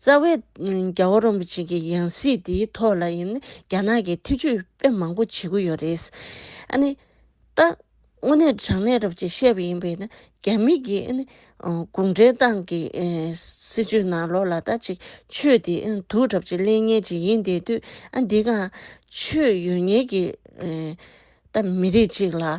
རྩ་བའི། རྒྱ་བོ་རོན་པོ་ཆེ་གི་ཡང་སྲིད་འདིའི་ཐོག་ལ་ཡིན་ན་རྒྱ་ནག་གིས་ཐེ་ཇུས་དཔེ་མང་པོ་བྱེད་ཀྱི་ཡོད་རེད། ཨ་ནི། ད། དངོས་གནས་དྲང་གནས་རབ་ཅེས་བཤད་པ་ཡིན་པས་ན་རྒྱ་མི་གིས་ཨ་ནི། གུང་ཁྲན་ཏང་གི་སྲིད་ཇུས་ནང་ལོགས་ལ་ད་ཅིག་ཆོས་དེ་དུག་གྲབས་ཅིག་གླེང་ཉེན་ཅིག་ཡིན་བསྡད་དུས་ཨ་འདི་ག། ཆོས་ཡོད་ཉེས་ཀྱི། ད་མི་རིགས་ཅིག་ལ།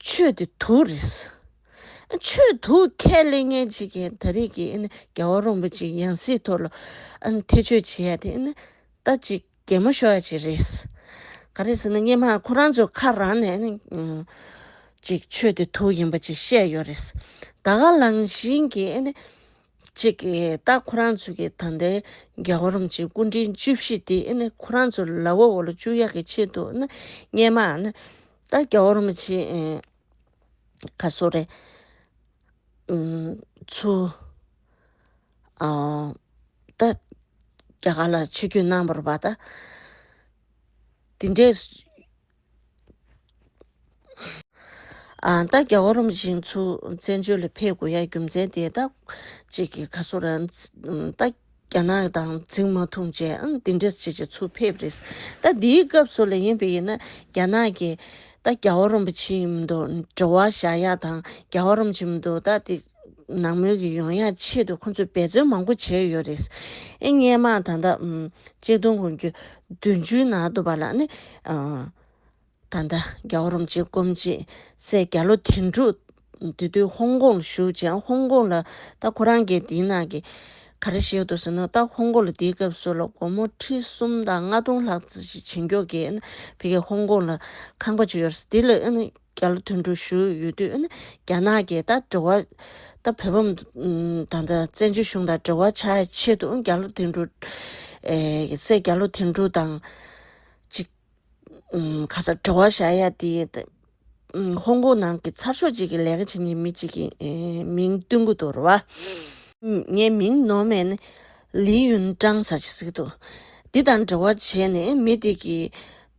ཆོས་ཀྱི་དུག་རེད། ཆོས་དུག་ཁས་ལེན་མཁན་གཅིག་གིས་ད་རེས་ཀྱི་རྒྱལ་བ་རོང་པོ་ཆེའི་ཡང་སྲིད་ཐོག་ལ་ཐེ་བྱུས་བྱེད་ཡ་དེ་ནི་ད་ཅིག་གེ་མོ་ཤོར་ཡ་ཅིག་རེད། ག་རེ་ཟེར་ན་སྙེ་མ་ཁོ་རང་ཚོའི་ཁ་རང་ནས་ནི་ཅིག་ཆོས་ཀྱི་དུག་ཡིན་པ་ཅིག་བཤད་ཡོད་རེད། ད་ག་ལང་བཞིན་གྱི་ནི། གཅིག་གིས་རྟགས་ཁོ་རང་ཚོ་གི་ད་ལྟའི་རྒྱལ་བ་རོམ་གྱི་སྐུ་དྲིན་བཅུ་བཞི་འདི་ཁོ་རང་ཚོ་ལ་བོ་བོ་ལ་བཅུ་ཡག་གི་ཆེད་དུ་རྙེད་མ་ཨ་ན་ད་རྒྱལ་བ་རོམ་གྱི་ཁ་སོ་རེད། ཚུ། ད་རྒྱ་གར་ལ་ཆོས་རྒྱུད་གནང་བར་བ་ད། དེ་འདྲས། ད་རྒྱ་བོ་རོམ་བཞིན་མཚོ་བཙན་བྱོལ་ལ་ཕེབས་དགོས་ཡ་རྒྱུ་མཚན་དེ་ད་ཅིག་གི་ག་སོ་ར་ད་རྒྱ་ནག་དང་རྫིང་མ་ཐུང་བཅས་ཨང་འདི་འདྲ་བྱེད་ཅེས་མཚོ་ཕེབས་རེས་ད་འདིའི་སྐབས་སུ་ལ་ཡིན་པས་ཡིན་ན་རྒྱ་ནག་གིས་ད་རྒྱ་བོ་རོམ་བྱིན་མདོ་འགྲོ་བ་བཞག་ཡ་དང་རྒྱ་བོ་རོམ་བྱིན་མདོ་ད་དེ། ནང་མོལ་གྱི་ཡོང་ཡ་ཆེད་དུ་ཁོང་ཚོས་འབད་བརྩོན་མང་པོ་བྱས་ཡོད་རེད། སྙན་དམངས་ད་ལྟ་གཅིག་སྟོང་དགུ་བརྒྱ་བདུན་ཅུའི་ནང་དུ་བ་ལགས་ནི། ད་ལྟ་རྒྱ་བོ་རོམ་གཅིག་སྐོམ་གཅིག་སེ་རྒྱ་ལོ་དེ་འབྲུག་དེ་དུས་ཧོང་ཀོང་ལ་བཞུགས་ཅིང་ཧོང་ཀོང་ལ་ད་ཁོ་རང་གི་འདི་ན་གི་ག་རེ་ཞིག་འདུག་ཟེར་ནོ་ད་ཧོང་ཀོང་ལ་འདིའི་སྐབས་སུ་ལ་སྒོར་མོ་ཁྲི་གསུམ་དང་ལྔ་སྟོང་ལྷག་བྱིན་འགྱོག་གིས་ཕི་གེ་ཧོང་ཀོང་ལ་ཁང་པ་བྱས་ཡོད་རེད་འདི་ལ། རྒྱ་ལ་དུད་འགྲོ་བཞུགས་ཡོད་དུས་རྒྱ་ནག་གིས་ད་འབྲེལ་བ། ད་བོད་འབངས་དང་ད་བཙན་བྱོལ་གཞུང་དང་འབྲེལ་བ་བྱ་ཡི་ཆེད་དུ་རྒྱ་ལོ་དུད་འགྲོ། སྲས་རྒྱ་ལོ་དུད་འགྲོ་དང། ཅིག། ཁ་སང་འབྲེལ་བ་བྱ་ཡ་དེ། ཧོང་ཀོང་ནང་གི་ཚར་ཤོག་ཅིག་གི་ལས་ཀ་བྱེད་མཁན་མི་ཅིག་གི་མིང་བསྟུན་གོ་དོ་རུ་བ། ངའི་མིང་ནོ་མེ་ནི། ལི་ཡུན་ཀྲང་ཟ་ཅིག་ཟིག་འདུག། འདི་དང་འབྲེལ་བ་བྱས་ནས་མི་དེ་གི།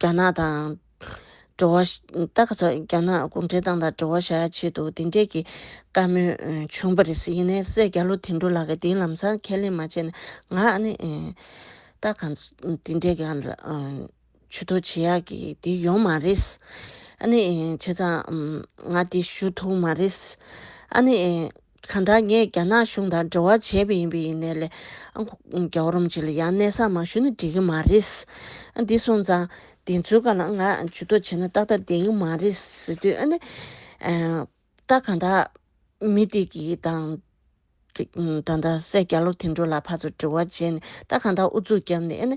རྒྱ་ནག་དང། འགྲོ་བ། ད་ག་ཚོད་རྒྱ་ནག་གུང་ཁྲན་ཏང་དང་འགྲོ་བ་བྱ་ཆེད་དུ་དེ་འདྲས་ཀྱི་བཀའ་མོལ་བྱུང་བ་རེད། ཡིན་ནའི་སེ་རྒྱ་ལོ་དིང་འགྲོ་ལགས་ཀྱི་དེའི་ལམ་སང་ཁས་ལེན་མ་བྱས་ན་ང་ནི། ད་ག་དེ་འདྲས་ཀྱི་ཆུ་ཐོག་བྱེད་ཡག་གི་དེ་ཡོང་མ་རེད། ཨ་ནི་བྱས་ཙང་ང་དེ་ཞུ་ཐུང་མ་རེད། ཨ་ནི། གང་ལྟར་ངས་རྒྱ་ནག་གཞུང་དང་འབྲེལ་བ་བྱས་པ་ཡིན་པས་ཡིན་ནའི་ལས། རྒྱ་རོམ་གྱི་ལས་ཡང་གནས་སར་མ་ཞུས་ན་འགྲིག་གི་མ་རེད། འདི་སོང་ཙང། དེ་ཚོའི་སྐབས་ལ་ང་ཇུས་གཏོགས་བྱས་ན་ཏག་ཏག་བསྡད་ཀྱི་མ་རེད་ཟེར་དུས་ཨ་ནི། ད་གང་དག། མི་དེ་གིས་དང། ད་ལྟ་སའི་རྒྱ་ལོ་དེ་འགྲོ་ལ་ཕར་ཚུར་འབྲེལ་བ་བྱས་ནས་ད་གང་དག་ཨུ་ཚུགས་བརྒྱབ་ནས་ཨ་ནི།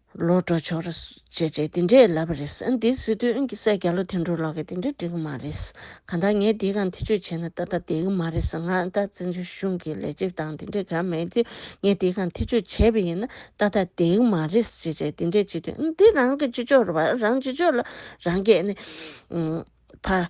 ལོ་འགྲོ་ཆོག་རེད། ཅེས་ཅེས་དེ་འདྲས་ལབ་པ་རེད། འདིའི་སྲིད་དོན་གྱི་སྲས་བརྒྱ་ལོ་དེ་འགྲོ་ལོག་གི་དེ་འདྲས་འགྲིག་གི་མ་རེད། གང་ལྟར་ངས་འདིའི་གང་ཐེ་ཆོད་བྱས་ན་ཏག་ཏག་བསྡད་གི་མ་རེད། ང་ལྟ་བཙན་བྱོལ་གཞུང་གི་ལས་བྱེད་དང་དེ་འདྲས་གང་མེད་དུས་ངས་འདིའི་གང་ཐེ་ཆོད་བྱས་པ་ཡིན་ན་ཏག་ཏག་བསྡད་གི་མ་རེད། ཅེས་ཅེས་དེ་འདྲས་བྱེད་དུས་འདི་རང་གི་སྤྱི་ཆོག་རེད་བ། རང་སྤྱི་ཆོག་ལ་རང་རྒྱལ་ནི། ཕ།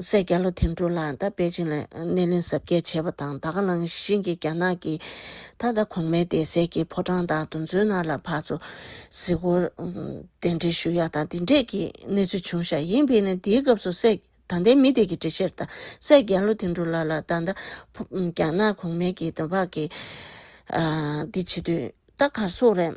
སའི་རྒྱ་ལོ་དེ་འབྲུག་ལ་ད་པེ་ཅིང་ལ་སྣེ་ལེན་གཟབ་རྒྱས་བྱས་པ་དང་ད་ག་ལང་ཤིང་གི་རྒྱ་ནག་གི་ད་ལྟ་གོང་མའི་སྡེ་སེལ་གྱི་ཕོ་བྲང་དང་དུམ་ཚོན་ནར་ལ་བག་ཚོ་གཟིགས་སྐོར་གདན་འདྲེན་ཞུ་ཡག་དང་དེ་འདྲས་ཀྱི་གནས་ཚུལ་བྱུང་ཤག་ཡིན་པས་ན་དེའི་སྐབས་སུ་སའི་ད་ལྟའི་མི་དེ་གི་འགྲེལ་བཤད་དང་སའི་རྒྱ་ལོ་དེ་འབྲུག་ལ་ལ་ད་ད་རྒྱ་ནག་གོང་མའི་གི་ད་བག་གི་འདི་བྱེད་དུས་ད་གར་སོག་རེད།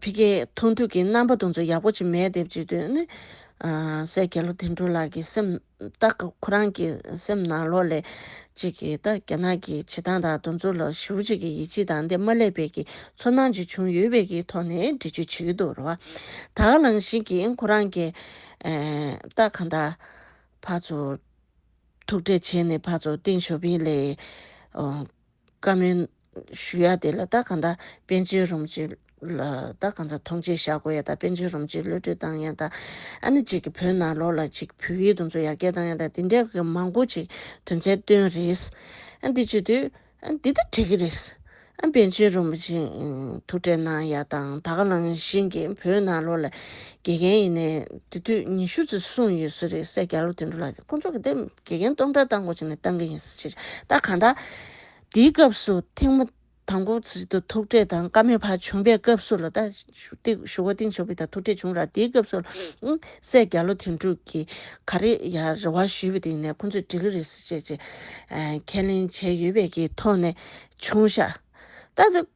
ཕི་ཀེ་མཐོང་དུས་ཀྱི་རྣམ་པ་དང་ཚོ་ཡག་པོ་ཅིག་མེད་དེ་བརྗེད་དོན་ནི། སྲས་རྒྱལ་ལོ་དིང་གྲོ་ལགས་ཀྱི་སེམས་ཏག་གི་ཁོ་རང་གི་སེམས་ནང་ལོག་ལས་གཅིག་གི་ད་རྒྱ་ནག་གི་བྱེད་སྟངས་དང་དུ་ཚོ་ལ་ཞི་བོ་གཅིག་གི་ཡིད་ཆེས་དང་འདི་མ་སླེབས་བས་ཀྱི་ཚོར་སྣང་གཅིག་བྱུང་ཡོད་བས་ཀྱི་ཐོག་ནས་འདྲི་གཅོད་བྱེད་ཀྱི་འདུག་རེད་བ། ད་ག་ལང་ཞིག་གི་ཁོ་རང་གི། ད་ག་ད། ཕ་ཚོ། ཐུགས་འཕྲད་བྱས་ནས་ཕ་ཚོ་ཏིང་ཞོ་ཕིང་ལས། བཀའ་མོལ་ཞུ་ཡ་དེ་ལ་ད་གང་དག་དཔལ་འབྱོར་རུམ་གྱི་ལ་ད་གང་དག་ཐོངས་མཆན་བཞག་དགོས་ཡ་དག་དཔལ་འབྱོར་རུམ་གྱི་ལོས་སྤྲོད་བཏང་ཡ་དག་ཨ་ནི་ཅིག་གི་བོད་ནང་ལོགས་ལ་ཅིག་བོད་ཡིག་དུམ་ཚོ་ཡར་རྒྱས་བཏང་ཡ་དག་དེ་འདྲ་གི་མང་པོ་ཅིག་དོན་ཚན་བཏོན་རེས་ཨ་འདི་བྱོས་དུས་ཨ་འདི་ད་བྲིས་གི་རེས་ཨ་དཔལ་འབྱོར་རུམ་གྱི་ཐུགས་འཕྲད་གནང་ཡ་དང་ད་ག་ལང་བཞིན་གྱི་བོད་ནང་ལོགས་ལ་དགེ་རྒན་ཡིན་ནའི་དེ་དུས་ཉི་ཤུ་ཙི་གསུངས་ཡོད་སུ་རེད་སེ་རྒྱ་ལོ་དེ་འདྲུ་ལ་ཁོང་ཚོ་གི་དེ་དགེ་རྒན་སྟོང་ཕྲག་བཏང་དགོས་ཅིག་ནས་བཏང་གི་ཡིན་སེ་ཕྱིར་ད་གང་ད། དེའི་སྐབས་སུ་ཐེངས་མ་དང་པོ་ཚིག་ཏུ་ཐུག་འཕྲད་དང་བཀའ་མོལ་བར་བྱུང་པའི་སྐབས་སུ་ལ་ད་ཞུ་བ་ཏིང་ཞོ་པི་དང་ཐུག་འཕྲད་བྱུང་ར་དེའི་སྐབས་སུ་ལ་སེ་རྒྱ་ལོ་དེ་འདྲུ་གིས་ག་རེ་ཡ་རེ་བ་ཞུས་པ་དེ་ནས་ཁོང་ཚོས་འགྲིག་གི་རེད་སེ་བྱས་ཅེས་ཁས་ལེན་བྱས་ཡོད་པའི་གི་ཐོག་ནས་བྱུང་ཤག་ད།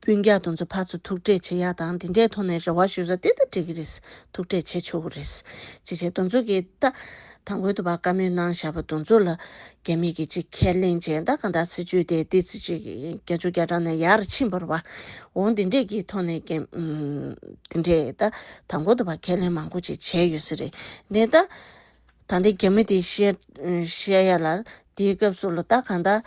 སྤུན་རྒྱག་དུ་འཛུལ་ཕར་ཚུར་ཐུག་འཕྲད་བྱེད་ཡག་དང་དེ་འདྲའི་ཐོག་ནས་རེ་བ་ཞུ་ས་དེ་ལྟར་འགྲིག་གི་རེད། ཐུག་འཕྲད་བྱེད་ཆོག་གི་རེད། ཅི་བྱས་དུ་འཛུལ་གི་ད། ད་འགོད་དུ་བ་དཀའ་མོད་ནང་བཞག་པ་དུ་འཛུལ་ལ། རྒྱ་མི་གི་ཅིག་ཁས་ལེན་བྱས་ད་གང་དག་སྲིད་ཇུས་དེ་དེ་ཚེ་ཅིག་རྒྱ་ཆུ་རྒྱ་གྲང་ནས་ཡར་ཕྱིན་བར་བ། འོང་དེ་འདྲས་ཀྱི་ཐོག་ནས་རྒྱ། དེ་འདྲས་ད། ད་འགོད་དུ་བ་ཁས་ལེན་མང་པོ་ཅིག་བྱས་ཡོད་ས་རེད། དེ་ད། ད་འདི་རྒྱ་མི་དེ་བཤད། བཤད་ཡ་ལ། དེའི་སྐབས་སུ་ལ་ད་གང་དག།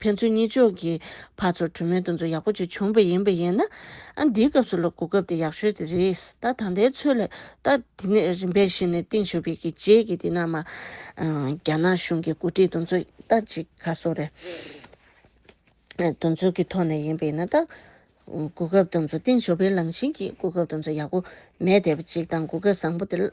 ཕན་ཚུན་གཉིས་ཕྱོགས་ཀྱི་བར་ཚོར་གྲོས་མོལ་འདུ་འཛོམས་ཡག་པོ་ཅིག་བྱུང་བས་ཡིན་པས་ཡིན་ན། ཨ་འདིའི་སྐབས་སུ་ལོ་དགུ་སྐབས་དེ་ཡག་ཤོས་དེ་རེད། ད་ད་ལྟའི་ཚོད་ལས་ད་དེ་ནས་རིམ་པས་གཞི་ནས་ཏིང་ཞོ་ཕེ་ཁི་རྗེས་ཀྱི་འདི་ནང་མ། རྒྱ་ནག་གཞུང་གི་འགོ་ཁྲིད་འདུ་འཛོམས་ད་ཅི་ག་སོགས་རེད། འདུ་འཛོམས་ཀྱི་ཐོག་ནས་ཡིན་པས་ཡིན་ན་ད། དགུ་སྐབས་འདུ་འཛོམས་ཏིང་ཞོ་ཕེའི་ལངས་བཞིན་གྱི་དགུ་སྐབས་འདུ་འཛོམས་ཡག་པོ་མེད་དེ་བ་གཅིག་དང་དགུ་སྐབས་བཟང་པོ་དེ།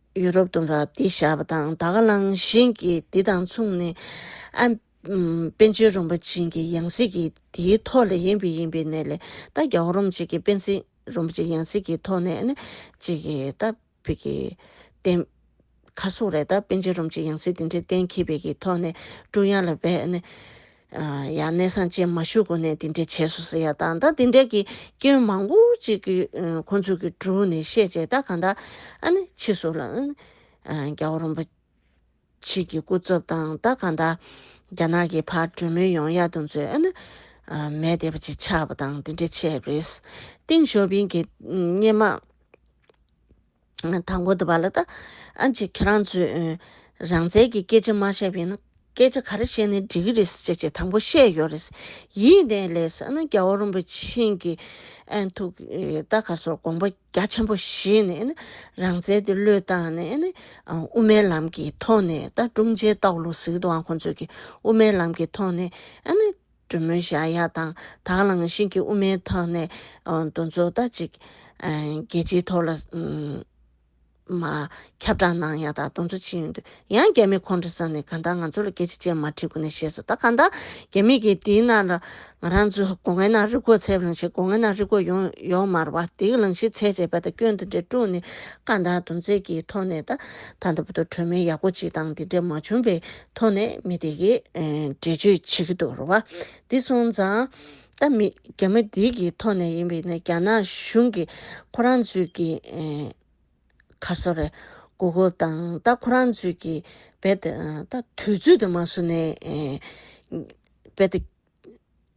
ཡུ་རོབ་དུ་རགས་བསྡད་བཞག་པ་དང་ད་ག་ལང་བཞིན་གྱི་འདི་དང་མཚུངས་ནས། ཨན། པན་ཆེན་རུང་པ་བྱིན་གྱི་ཡང་སྲིད་ཀྱི་དེའི་ཐོག་ལས་ཡིན་པའི་ཡིན་པའི་གནས་ལས་ད་རྒྱ་བོ་རུམ་བྱིན་གྱི་པན་ཆེན་རུང་པ་བྱིན་ཡང་སྲིད་ཀྱི་ཐོག་ནས་ཨན། ཅིག་གི་ད་བི་གི། བསྟན། ཁ་སོགས་རེད་ད་པན་ཆེན་རུམ་བྱིན་ཡང་སྲིད་དེ་འདྲའི་གཏན་འཁེལ་བི་གི་ཐོག་ནས་ཀྲུང་དབྱང་ལ་བས་ཨན། ཡང་གནས་སངས་ཅན་མ་ཞུགས་གོང་ནས་དེ་འདྲའི་བྱས་སོ་ཟེར་ཡ་ད་ད་དེ་འདྲའི་གི་སྐྱོན་མང་པོ་ཅིག་གི་ཁོང་ཚོ་གི་དྲུང་ནས་བཤད་བྱས་ད་གང་དག་ཨ་ནི་ཕྱིས་སུ་ལ་ཨ་ནི་རྒྱ་བོ་རོམ་པ་ཕྱིས་གི་སྐུ་རྩོབ་དང་ད་གང་དག་རྒྱ་ནག་གི་ཕར་གྲོས་མོལ་ཡོང་ཡ་དུང་ཚོས་ཨ་ནི་མེ་དེ་བ་ཅིག་ཆགས་པ་དང་དེ་འདྲའི་ཆས་རེད། ཏིང་ཞོ་ཕིང་གི་སྙེ་མ། དང་པོ་དུ་བ་ལ་ད་ཨ་ཅེ་ཁྱེད་རང་ཚོས་རང་བཙན་གྱི་སྐད་ཆ་མ་བཤད་པས་ན་སྐད་ཆ་ག་རེ་བཤད་ནས་འགྲིག་གི་རེད་བྱས་བྱས་དང་པོ་བཤད་ཡོད་རེད་ཡིད་བརྟན་ལས་ས་ན་རྒྱ་བོ་རིན་པོ་ཆེན་གྱི་ཐུགས་རྟ་ག་སོར་དགོངས་པ་རྒྱ་ཆེན་པོ་བཞེས་ནས་ནི་རང་བཙན་དེ་བློས་བཏང་ནས་ནི་དབུ་མའི་ལམ་གྱི་ཐོག་ནས་ད་ཀྲུང་ཕྱེའི་སྟག་ལུང་ཟིག་དུའང་ཁོང་ཚོས་ཀྱི་དབུ་མའི་ལམ་གྱི་ཐོག་ནས་ཨ་ནི། གྲུ་མོ་བཞག་ཡ་དང་དག་ལངས་ཤིང་གི་དབུ་མའི་ཐག་ནས་འདུ་འཛོ་ལྟ་ཅིག། རྒྱལ་སྤྱིའི་ཐོག་ལ། མ། ཁྱབ་བསྒྲགས་གནང་ཡ་དག་འདུ་འཛོ་ཅི་ཡོད་འདུག་ཡང་རྒྱ་མི་ཁོང་ཁྲོ་ས་ནས་ག་འདག་ང་ཚོ་ལ་སྐད་ཆ་ཅན་མ་ཁྲིད་གོ་ནས་བཤད་སོ་ད་ག་འདག་རྒྱ་མི་གིས་དེའི་ནང་ལ་ང་རང་ཚོ་སྒོ་ངའི་ནང་རི་གོ་ཚད་བླངས་ཤིག་སྒོ་ངའི་ནང་རི་གོ་ཡོང་ཡོག་མར་བ་དེའི་ལངས་ཤིག་ཚད་བྱས་པ་ད་སྐྱོན་འདི་འདྲས་དཀྲུགས་ནས་ག་འདག་འདུ་འཛེ་གི་ཐོག་ནས་ད་ད་འདི་པོ་ཏོ་གྲོས་མོལ་ཡག་པོ་ཅིག་དང་འདི་འདྲས་མ་བྱུང་པའི་མཐོང་ནས་མི་དེ་ཀྱིས་འགྲེལ་བརྗོད་བྱེད་ཀྱི་འདུག་རུ་བ་འདི་སོང་ཙང། ད་མི་རྒྱ་མ་འདི་ཀྱི་ཐོག་ནས་ཡིན་པས་ན་རྒྱ་ནག་གཞུང་གིས་ཁོ་རང་ཚོས་ཀྱི། ཁར་སོ་རེ། གོ་སྐབས་དང་ད་ཁོ་རང་ཚོས་ཀྱི་བེད། ད་དུས་ཚོད་དུ་མ་སོང་ནས། བེད།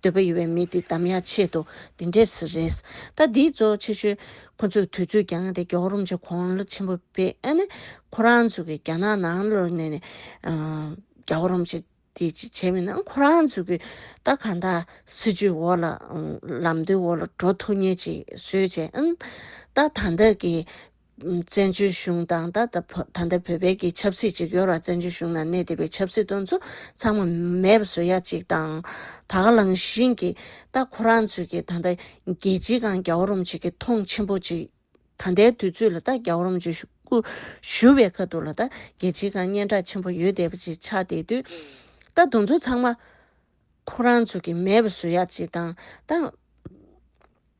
འདོད་པ་ཡོད་པའི་མི་དེ་དམ་ཡག་ཆེད་དུ་དེ་འདྲས་སུ་རེད། ད་འདིའི་གཙོ་བོ་ཆེ་ཤོས་ཁོ་ཚོས་དུས་ཚོད་འགྱངས་ཏེ་གྱོག་རོམ་གྱི་གོང་བློ་ཆེན་པོ་སྤེལ་ནས་ཁོ་རང་ཚོ་གི་རྒྱ་ནག་ནང་ལོག་ནས་ནས་གྱོག་རོམ་བྱེད་དེ་ཅི་བྱས་མིན་ན་ཁོ་རང་ཚོ་གི་ད་གང་དག་སྲིད་ཇུས་འོག་ལ་ལམ་སྟོན་འོག་ལ་འགྲོ་ཐུབ་ངེས་ཅིག་བཟོས་བྱས་ཨང། ད་ད་ལྟ་གི་བཙན་བྱོལ་གཞུང་དང་ད་ལྟ་བོད་པའི་གི་ཆབ་སྲིད་ཅིག་ཡོད་ར་བཙན་བྱོལ་གཞུང་ནང་གནས་བསྡད་པའི་ཆབ་སྲིད་དོན་ཚོ་ཚང་མ་མེད་པ་བཟོ་ཡ་གཅིག་དང། ད་ག་ལང་བཞིན་གི་ད་ཁོ་རང་ཚོས་གི་ད་ལྟ་རྒྱལ་སྤྱིའི་གང་རྒྱ་བོ་རོམ་ཆིག་གི་མཐོང་ཆེན་པོ་ཅིག་ད་ལྟའི་དུས་ཚོད་ལ་ད་རྒྱ་བོ་རོམ་ཆིག་སྐུ་བཞུ་བའི་ཁ་ཐུག་ལ་ད་རྒྱལ་སྤྱིའི་གང་སྙན་གྲགས་ཆེན་པོ་ཡོད་བསྡད་པ་ཅིག་ཆགས་བསྡད་དུས་ད་དོན་ཚོ་ཚང་མ་ཁོ་རང་ཚོས་གི་མེད་པ་བཟོ་ཡ་གཅིག་དང། ད།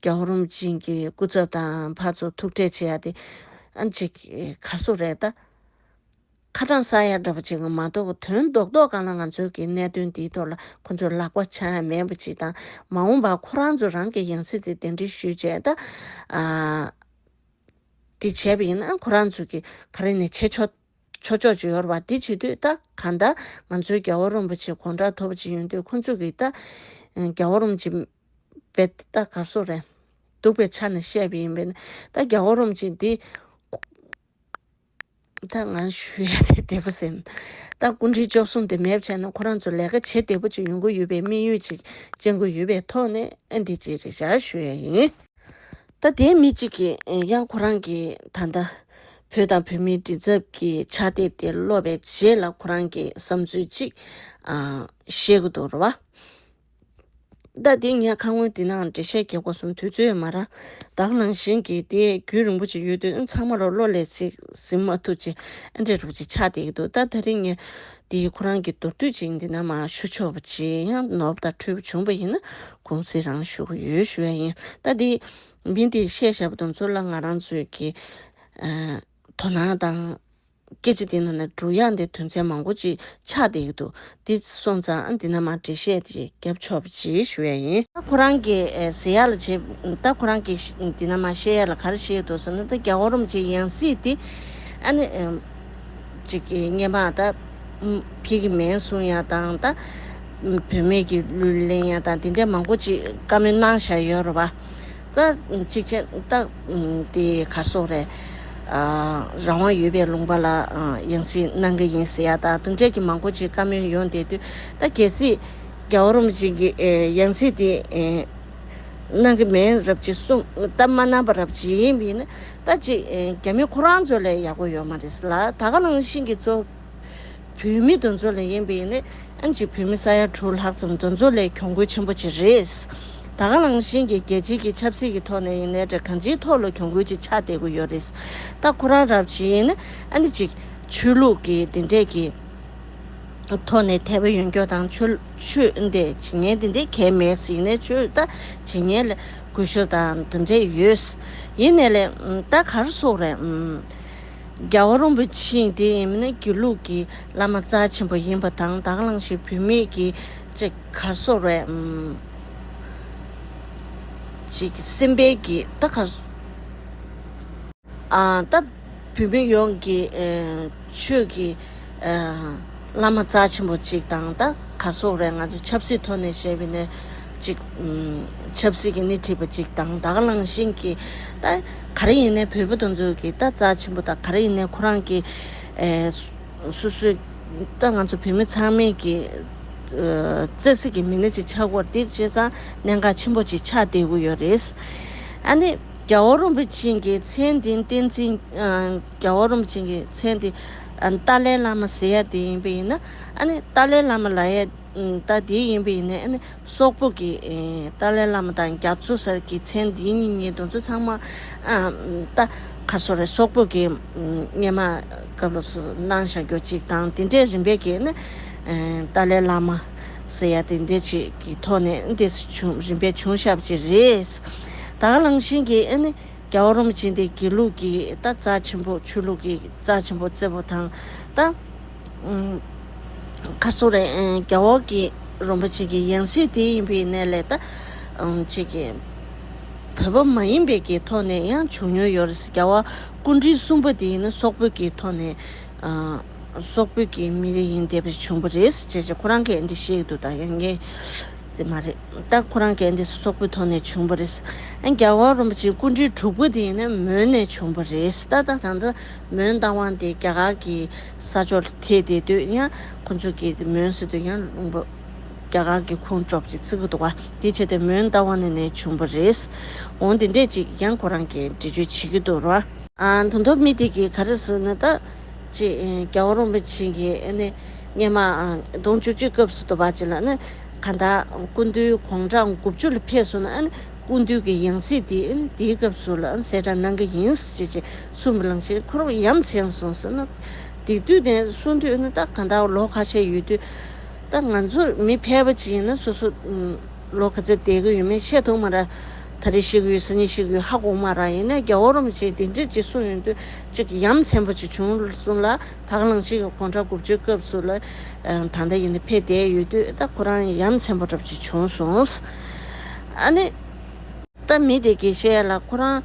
རྒྱ་ཧོར་རུམ་ཅན་གྱི་སྐུ་ཚབ་དང་ཕ་ཚོ་ཐུག་འཕྲད་བྱེད་ཡ་དེ་ཨ་མཆིག་གར་སོ་རེད་ད། ཁ་དྲང་ས་ཡ་འདྲ་པོ་ཅིག་མ་གཏོགས་དོན་རྡོག་རྡོག་གང་ལ་ང་ཚོའི་གི་གནད་དོན་འདིའི་ཐོག་ལ་ཁོ་ཚོས་ལག་པ་འཆང་ཡ་མེད་པ་ཅིག་དང་མ་འོངས་པར་ཁོ་རང་ཚོ་རང་གི་ཡང་སྲིད་དེ་གདན་འདྲེན་ཞུས་བྱས་ད། དེ་བྱས་པ་ཡིན་ན་ཁོ་རང་ཚོ་གི་ག་རེ་ནས་བྱེད་ཆོག་ཆོག་ཅིག་ཡོད་རེད་བ་འདི་བྱེད་དུས་ད་ག་ད་ང་ཚོའི་རྒྱ་ཧོར་རུམ་པ་ཆེ་གོང་དྲ་ཐོབ་པ་ཅིག་ཡོང་དུས་ཁོ་ཚོ་གི་ད་རྒྱ་ཧོར་རུམ་ཅན། བས་ཏེ་ད་གར་སོ་རས། འདུག་པའི་ཆ་ནས་བཤད་པ་ཡིན་པས་ན་ད་རྒྱ་བོ་རུམ་ཅིག་འདི། ད་ང་ཞུ་ཡ་དེ་བདེ་པོ་སེམས། ད་སྐུ་མཁྲིས་བཅོ་བསྲུང་དེ་མེད་བྱས་ན་ཁོ་རང་ཚོ་ལས་ཀ་བྱེད་བདེ་པོ་ཅིག་ཡོང་གི་ཡོད་པའི་དམིགས་ཡུལ་ཅིག་ཅན་གྱི་ཡོད་པའི་ཐོག་ནས་ཨ་འདི་གཅིག་རེད་བཞག་ཞུ་ཡ་ཡིན། ད་དེའི་མི་གཅིག་གིས་ཡང་ཁོ་རང་གིས་ད་ལྟ། བོད་དང་བོད་མིའི་འདྲིས་ཚབ་ཀྱི་ཕྱག་དེབ་དེ་ཀློག་པའི་རྗེས་ལ་ཁོ་རང་གིས་བསམ་ཚུལ་གཅིག། བཤད་ཀྱི་འདུག་རེད་བ། བརྡ་འདི་ངས་ཁ་སྔོན་འདི་ནའང་འགྲེལ་བཤད་རྒྱག་དགོས་བསམ་དུས་ཚོད་ཡོད་མ་རང་བདག་ནང་བཞིན་གྱི་དེ་རྒྱུན་རིང་པོ་ཅིག་ཡོད་དུས་ཚང་མ་རོ་བློ་ལས་ཚིག་ཟིན་མ་ཐུབ་ཅིག་ཨ་འདྲའི་རུག་ཅིག་ཆགས་བསྡད་ཀྱི་འདུག་ད་ད་རིང་ངས་འདི་ཁོ་རང་གི་མདོར་བསྡུས་ཅིག་འདི་ནའང་ཞུ་ཆོག་པ་ཇི་ཡང་ནོར་བ་དང་འཁྲུལ་བ་བྱུང་བ་ཡིན་ན་དགོངས་ཚིག་རང་ཞུ་གི་ཡོད་ཞུ་ཡ་ཡིན་ད་འདི་མི་འདིས་བཤད་བཞག་པ་དང་ཚུར་ལ་ང་རང་ཚོའི་གི་དོ་སྣང་དང། སྐད་ཅིག་དེ་ན་ནི་འབྲུག་དབྱངས་དེ་དོན་ཚན་མང་པོ་ཅིག་ཆགས་བསྡད་ཀྱི་འདུག་འདི་སོང་ཙང་འདི་ན་མ་འབྲི་ཤེས་ཏེ་རྒྱབ་ཕྱོགས་པ་ཅི་ཞུ་ཡ་ཡིན། ད་ཁོ་རང་གི་ཟེར་ཡག་ལ་བྱེད་ད་ཁོ་རང་གི་འདི་ན་མ་བཤད་ཡག་ལ་ག་རེ་བཤད་འདུག་ཟེར་ན་ད་རྒྱ་སྒོར་རོམ་བྱེད་ཡང་སྲིད་དེ། ཨ་ནི། ཅིག་གི་སྙན་པའང་ད། ཕི་གི་མེན་གསུང་ཡག་དང་ད། བུད་མེད་ཀྱི་གླུ་ལེན་ཡག་དང་དེ་འདྲས་མང་པོ་ཅིག་བཀའ་མོལ་གནང་བཞག་ཡོད་རོ་བ། རྩ་ཆིག་ཆེན་རྟགས་དེ་གར་སོང་རེད། རང་དབང་ཡོད་པའི་ལུང་པ་ལ་ཡང་སྲིད་གནང་གི་ཡིན་ཟེར་ཡག་ད་དུང་འབྲས་ཀྱི་མང་པོ་ཆེ་བཀའ་མོལ་ཡོང་བསྡད་དུས་ད་གལ་སྲིད་རྒྱ་བོད་རོམ་ཅན་གྱི་ཡང་སྲིད་དེ་གནང་གི་མེད་རབས་ཅིག་གསུང་ད་མ་གནང་པ་རབས་ཅིག་ཡིན་ཡིན་ན་ད་ཅིག་རྒྱ་མི་ཁོ་རང་ཚོ་ལས་ཡག་པོ་ཡོད་མ་རེད་ལ་ད་ག་རང་བཞིན་གྱི་ཚོ། བུད་མེད་འདུ་འཛོ་ལས་ཡིན་པས་ཡིན། ཨན་གྱི་བུད་མེད་ས་ཡ་དྲུག་ལྷག་ཙམ་འདུ་འཛོ་ལས་གྱོང་གུད་ཆེན་པོ་ཅིག་རེད། ད་ག་རང་བཞིན་གྱི་རྒྱལ་སྤྱི་གྱི་ཆབ་སྲིད་ཀྱི་ཐོག་ནས་ཡིན་ནའི་རེད་གང་ཅིའི་ཐོག་ལ་གྱོང་གུད་ཅིག་ཆགས་བསྡད་གི་ཡོད་རེད། ད་ཁོ་རང་རབ་བྱེད་ཡིན། ཨན་གྱི་ཆོས་ལུགས་ཀྱི་འདི་འདྲས་ཀྱི་ཐོག་ནས་དད་པ་ཡོན་སྐྱོ་དང་ཆོས་ཆོས་འདི་བྱེད་ངན་འདི་འདྲས་གལ་མེད་ཡིན་ནའི་ཆོས་ད་བྱེད་ངན་ལས་གུས་ཞབས་དང་འདི་འདྲས་ཡོད། ཡིན་ནའི་ལས་ད་གར་སོགས་རེད། རྒྱལ་བ་རོང་པོ་ཆེའི་དེ་ཡིན་མིན་ནི་དགེ་ལུགས་ཀྱི་བླ་མ་རྩ་ཆེན་པོ་ཡིན་པ་དང་དྭགས་གླང་ཆེན་བུད་མེད་ཀྱི་ཅེས་གར་སོ་རས་ཅིག་སེམས་དཔའ་གྱི་རྟ་གར་སོ་རྟ། བུད་མེད་ཡོངས་ཀྱི་ཆོས་ཀྱི་བླ་མ་རྩ་ཆེན་པོ་ཅིག་དང་རྟ་གར་སོ་རས་ང་ཚོས་ཆབ་སྲིད་ཐོག་ནས་བཤད་པའི་ནི། གཅིག། ཆབ་སྲིད་ཀྱི་སྣེ་ཁྲིད་པ་གཅིག་དང་དག་བླངས་ཤིང་གིས། ག་རེ་ཡིན་ནའི་བོད་པ་དེ་ཚོ་གིས་རྩ་ཆེན་པོ་དང་ག་རེ་ཡིན་ནའི་ཁོ་རང་གི། སོ་སོའི། ད་ང་ཚོ་བོད་མི་ཚང་མས་ཀྱི། བརྩེ་སེམས་ཀྱི་མི་སྣ་གཅིག་ཆགས་སྐོར་འདི་བྱས་ཙང་གནད་འགག་ཆེན་པོ་གཅིག་ཆགས་བསྡད་དགོས་ཡོད་རེད། ཨ་ནི། རྒྱ་བོ་རོན་པོ་ཆེན་གྱི་མཚན་འདི་བསྟན་འཛིན། རྒྱ་བོ་རོན་པོ་ཆེན་གྱི་མཚན་འདི། ཏཱ་ལའི་བླ་མ་ཟེར་ཡ་དེ་ཡིན་པས་ཡིན་ན། ཨ་ནི་ཏཱ་ལའི་བླ་མ་ལ་ཡ། ད་དེ་ཡིན་པའི་ནས་ནི་སོག་པོ་གི། ཏཱ་ལའི་བླ་མ་དང་རྒྱ་མཚོ་ཟེར་གི་མཚན་འདི་གཉིས་ཉིད་དུ་མཚོ་ཚང་མ། ཏཱ། ཁ་སོ་རེ་སོག་པོ་གི། སྙེ་མ་སྐབས་ལོ་སུ་སྣང་ཞག་རྒྱོ་གཅིག་དང་དེ་འདྲའི་རིམ་པས་གི་ནི། ཏཱ་ལའི་བླ་མ། ཟེར་ཡ་དེ་འདྲའི་ཆེད་ཀྱི་ཐོག་ནས་འདི་སུ་བྱུང་རིམ་པས་བྱུང་ཞབས་ཅི་རེད། ད་གླང་ཆེན་གྱི་ནི། རྒྱ་བོ་རོམ་ཆེན་དེ་དགེ་ལུགས་ཀྱི་ཏཱ་རྩ་ཆེན་པོ་ཆོས་ལུགས་ཀྱི་རྩ་ཆེན་པོ་བརྩེ་བོ་དང་ཏཱ། ཁ་སོ་རས་རྒྱ་འོག་གི་རོམ་པ་ཅིག་གི་ཡང་སྲིད་དེ་ཡིན་པའི་གནས་ལས་ད་ཅིག་གི་བོད་པ་མ་ཡིན་པའི་གི་ཐོག་ནས་ཡང་བྱུང་མྱོང་ཡོད་རེད་རྒྱ་བ་ཀུན་རིག་གསུམ་པ་དེ་ཡིན་ན་སོག་བོད་ཀྱི་ཐོག་ནས་སོག་བོད་ཀྱི་མི་རིགས་ཡིན་བསྡད་པས་བྱུང་བ་རེད་ཅེས་ཅེས་ཁོ་རང་གས་འདི་བཤད་འདུག་ད་ཡང་ངས་དེ་མ་རེད་ད་ཁོ་རང་གས་འདི་སོག་བོད་ཐོག་ནས་བྱུང་བ་རེད་ཡང་རྒྱ་བ་རོམ་པ་ཅིག་ཀུན་རིག་དྲུག་པ་དེ་ཡིན་ན་མོན་ནས་བྱུང་བ་རེད་ད་ད་ད་མོན་རྟ་དབང་དེ་རྒྱ་གར་གྱི་ས་ཕྱོགས་ལ་ཐེ་དེ་དུས་ཡང་ཁོ་ཚོ་གི་མོན་སི་ཏུ་ཡང་ལུང་པ་རྒྱ་གར་གྱི་ཁོང་གྲོགས་ཀྱི་ཚིག་གུ་དོ་བ་དེ་བྱས་ཏེ་མོན་རྟ་དབང་ནས་བྱུང་བ་རེད། འོང་དེ་འདྲས་ཅིག་ཡང་ཁོ་རང་གིས་འགྲེལ་བརྗོད་བྱེད་ཀྱི་འདུག་ར། ད་མདོ་སྨི་དེ་གི་ག་རེ་ཟུར་ན་ད་ཅི་རྒྱ་བོ་རོང་པ་ཆེན་གྱི་ནི་སྙེ་མ་གདོང་བཅུ་གཅིག་སྐབས་སུ་དོ་བ་ཅིག་ལ་ནི་ག་ད་ཀུན་འདུལ་གོང་གྲགས་དགུ་བཅུ་ལ་ཕེབས་སོང་ན་ཀུན་འདུལ་གྱི་ཡང་སྲིད་དེ་དེའི་སྐབས་སུ་ལ་གསལ་བསྒྲགས་གནང་གི་ཡིན་ཞེས་ཅི་གསུམ་པ་གླང་ཆེན་འཁོར་བ་ཡམས་བྱེད་ཡང་གསུངས་ཟེར་ན། སྡིག་དུས་དེ་གསུངས་དུས་ན་ད་ག་འདའོ་ལོ་ཁ་ཤས་ཡོད་དུས། ད་ང་ཚོ་མི་ཕལ་པ་ཅིག་ཡིན་ན་སོ་སོ། ལོ་ག་ཚད་བསྡད་ཀྱི་ཡོད་མེད་ཤེས་ཐུབ་མ་ར། ད་རེ་ཤི་གི་ཡོད་ཟེར་ཉིན་ཤི་གི་ཡོད་ཧ་གོ་མ་ར་ཡིན་ན་རྒྱ་བོ་རོམ་བྱེད་དེ་འདྲས་ཅིག་གསུངས་ཡོད་དུས་ཅིག་ཡམས་ཆེན་པོ་ཅིག་བྱུང་གསུངས་ལ་ད་གླང་ཆེན་གྱི་གོང་ཁྲ་དགུ་བཅུའི་སྐབས་སུ་ལ། ད་ལྟ་ཡིན་ན་ཕལ་བསྡད་ཡོད་དུས་ད་ཁོ་རང་ཡམས་ཆེན་པོ་འདྲ་བོ་ཅིག་བྱུང་གསུངས། ཨ་ནི། ད་མི་དེ་དགེ་བཤེས་ལ་ཁོ་རང།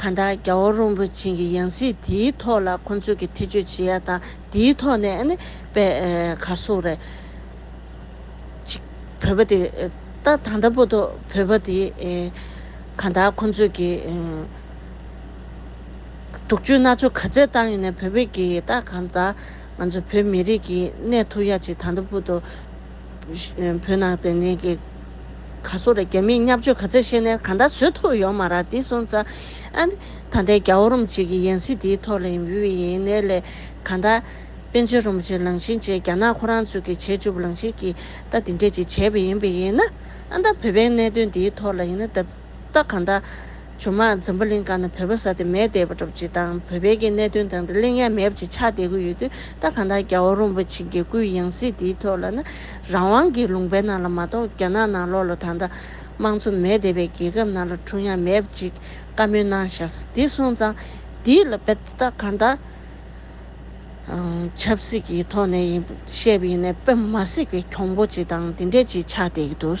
གང་ལྟར་རྒྱ་བོ་རོང་པོ་ཆེན་གྱི་ཡང་སྲིད་དེའི་ཐོག་ལ་ཁོ་ཚོས་ཀྱི་ཐེ་ཇུས་བྱེད་ཡ་དང་དེའི་ཐོག་ནས་ཨ་ནི་པེ་ག་སུ་རེད། ཅིག་བོད་པ་དེ་ད་ད་ལྟ་པོ་ཏོ་བོད་པ་དེ་གང་ལྟར་ཁོ་ཚོས་ཀྱི་དུག་ཇུས་སྣ་ཚོགས་ག་ཚད་བཏང་ཡོད་ནས་བོད་པས་ཀྱི་ད་གང་ལྟར་ང་ཚོ་བོད་མི་རིགས་ཀྱི་གནས་ཐུག་ཡ་ཅིག་ད་ལྟ་པོ་ཏོ། བོད་ནང་དོན་རྐྱེན་གྱི་ག་ཚོད་ར་རྒྱ་མིས་མཉམ་སྤྱོད་ག་ཚད་བྱས་ནས་ག་འདྲ་བཟོས་ཐུབ་ཡོང་མ་ར་དེ་སོང་ཙ། ད་ལྟའི་རྒྱ་བོ་རུམ་བྱེད་ཀྱི་ཡན་སྲིད་དེའི་ཐོག་ལ་ཡིན་བུའི་ཡིན་ནའི་ལས་ག་འདྲ། པན་ཆེན་རུམ་བྱེད་ལང་བཞིན་བྱས་རྒྱ་ནག་ཁོ་རང་ཚོས་ཀྱི་བྱེད་བཅུབ་ལང་བཞིན་གྱིས་ད་དེ་འདྲས་ཅིག་བྱས་པ་ཡིན་བུ་ཡིན་ན། ད་བོད་པའི་གནད་དོན་དེའི་ཐོག་ལ་ཡིན་ན་ད། ལྟ་གང་ལྟ། ཇོ་མང་འཛམ་བུ་གླིང་སྐར་ན་བོད་པ་ས་དེ་མེད་བསྡད་པ་གྲུབ་ཅིག་དང་བོད་བལ་གྱི་གནད་དོན་དང་དེ་གླིང་ཡ་མེབ་ཅིག་ཆགས་བསྡད་གི་ཡོད་དུས་ལྟ་གང་ལྟ་རྒྱ་བོ་རོན་པོ་ཆེ་དགེ་བསྐུལ་ཡང་སྲིད་དེའི་ཐོག་ལ་ན་རང་དབང་གི་ལུང་པའི་ནང་ལ་མ་གཏོགས་རྒྱ་ནག་ནང་ལོག་ལོ་དང་ད་དམངས་གཙོ་མེད་བསྡད་པའི་རྒྱལ་ཁབ་ནང་ལ་འཁྲུངས་ཡ་མེབ་ཅིག་བཀའ་མོལ་གནང་ཞག་འདི་སོང་ཙང་འདི་ལ་བལྟ་ལྟ་གང་ལྟ། ཆབ་སྲིད་ཀྱི་ཐོག་ནས་ཡིན་བཤད་པ་ཡིན་ན་བོད་མ་སྲིད་པའི་གྱོང་པོ་ཅིག་དང་དེ་འདྲས་ཅིག་ཆགས་བསྡད་ཀྱི་འདུག།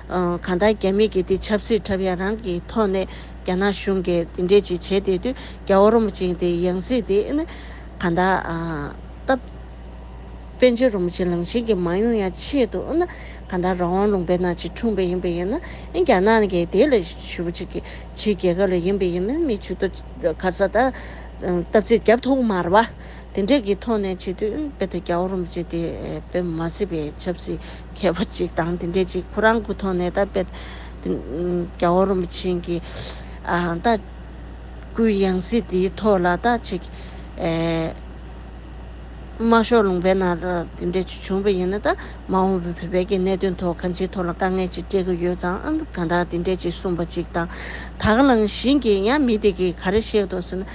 གང་ལྟར་རྒྱ་མི་གིས་དེ་ཆབ་སྲིད་འཁྲབ་ཡ་རང་གི་ཐོག་ནས་རྒྱ་ནག་གཞུང་གིས་དེ་འདྲས་ཅིག་བྱས་བསྡད་དུས་རྒྱ་བོར་རོ་མོ་ཅན་དེ་ཡང་སྲིད་དེ་ཨེ་ན། གང་ལྟར། སྟབས། པན་ཆེན་རོ་མོ་ཆེན་ལང་ཤིང་གི་མ་ཡོང་ཡ་ཆེད་དུ་ཨེ་ན། གང་ལྟར་རང་དབང་ལུང་པའི་ནང་ཅིག་འཁྲུངས་པ་ཡིན་པ་ཡིན་ན་ཨེ་རྒྱ་ནག་གིས་དེ་ལ་ཞུ་བ་ཅིག་གིས་ཕྱིའི་རྒྱལ་ཁབ་ལ་ཡིན་པ་ཡིན་མིན་མི་ཆུ་ཏོ། གར་ས་ད། སྟབས་ཚེ་རྒྱབ་ཐོག་མར་བ། དེ་འབྲེལ་གྱི་ཐོག་ནས་བྱེད་དུས་དཔེ་དེབ་རྒྱ་བོར་རུམ་བྱས་ཏེ་དཔེ་མ་བཟོས་པའི་ཆབ་སྲིད་མཁས་པ་གཅིག་དང་དེ་འབྲེལ་གྱི་ཁོ་རང་གི་ཐོག་ནས་ད་དཔེ་དེབ་རྒྱ་བོར་རུམ་བྱེད་མཁན་གྱི་ལྟ་སྐུལ་ཡང་སྲིད་དེའི་ཐོག་ལ་ལྟ་བྱེད་ཀྱི་མ་ཤོག་ལུང་པའི་ནང་དེ་འབྲེལ་གྱི་བྱུང་བ་ཡིན་ན་ད་མ་འོངས་པའི་བོད་པའི་ཀྱི་གནད་དོན་ཐོག་གང་ཅིའི་ཐོག་ལ་དཀའ་ངལ་ཅིག་སྤྲད་ཀྱི་ཡོད་ཙང་གང་དག་དེ་འབྲེལ་གྱི་གསུངས་པ་གཅིག་དང་དག་ལངས་བཞིན་གྱི་ཡང་མི་དེ་གིས་ག་རེ་བཤད་འདུག་ཟེར་ན།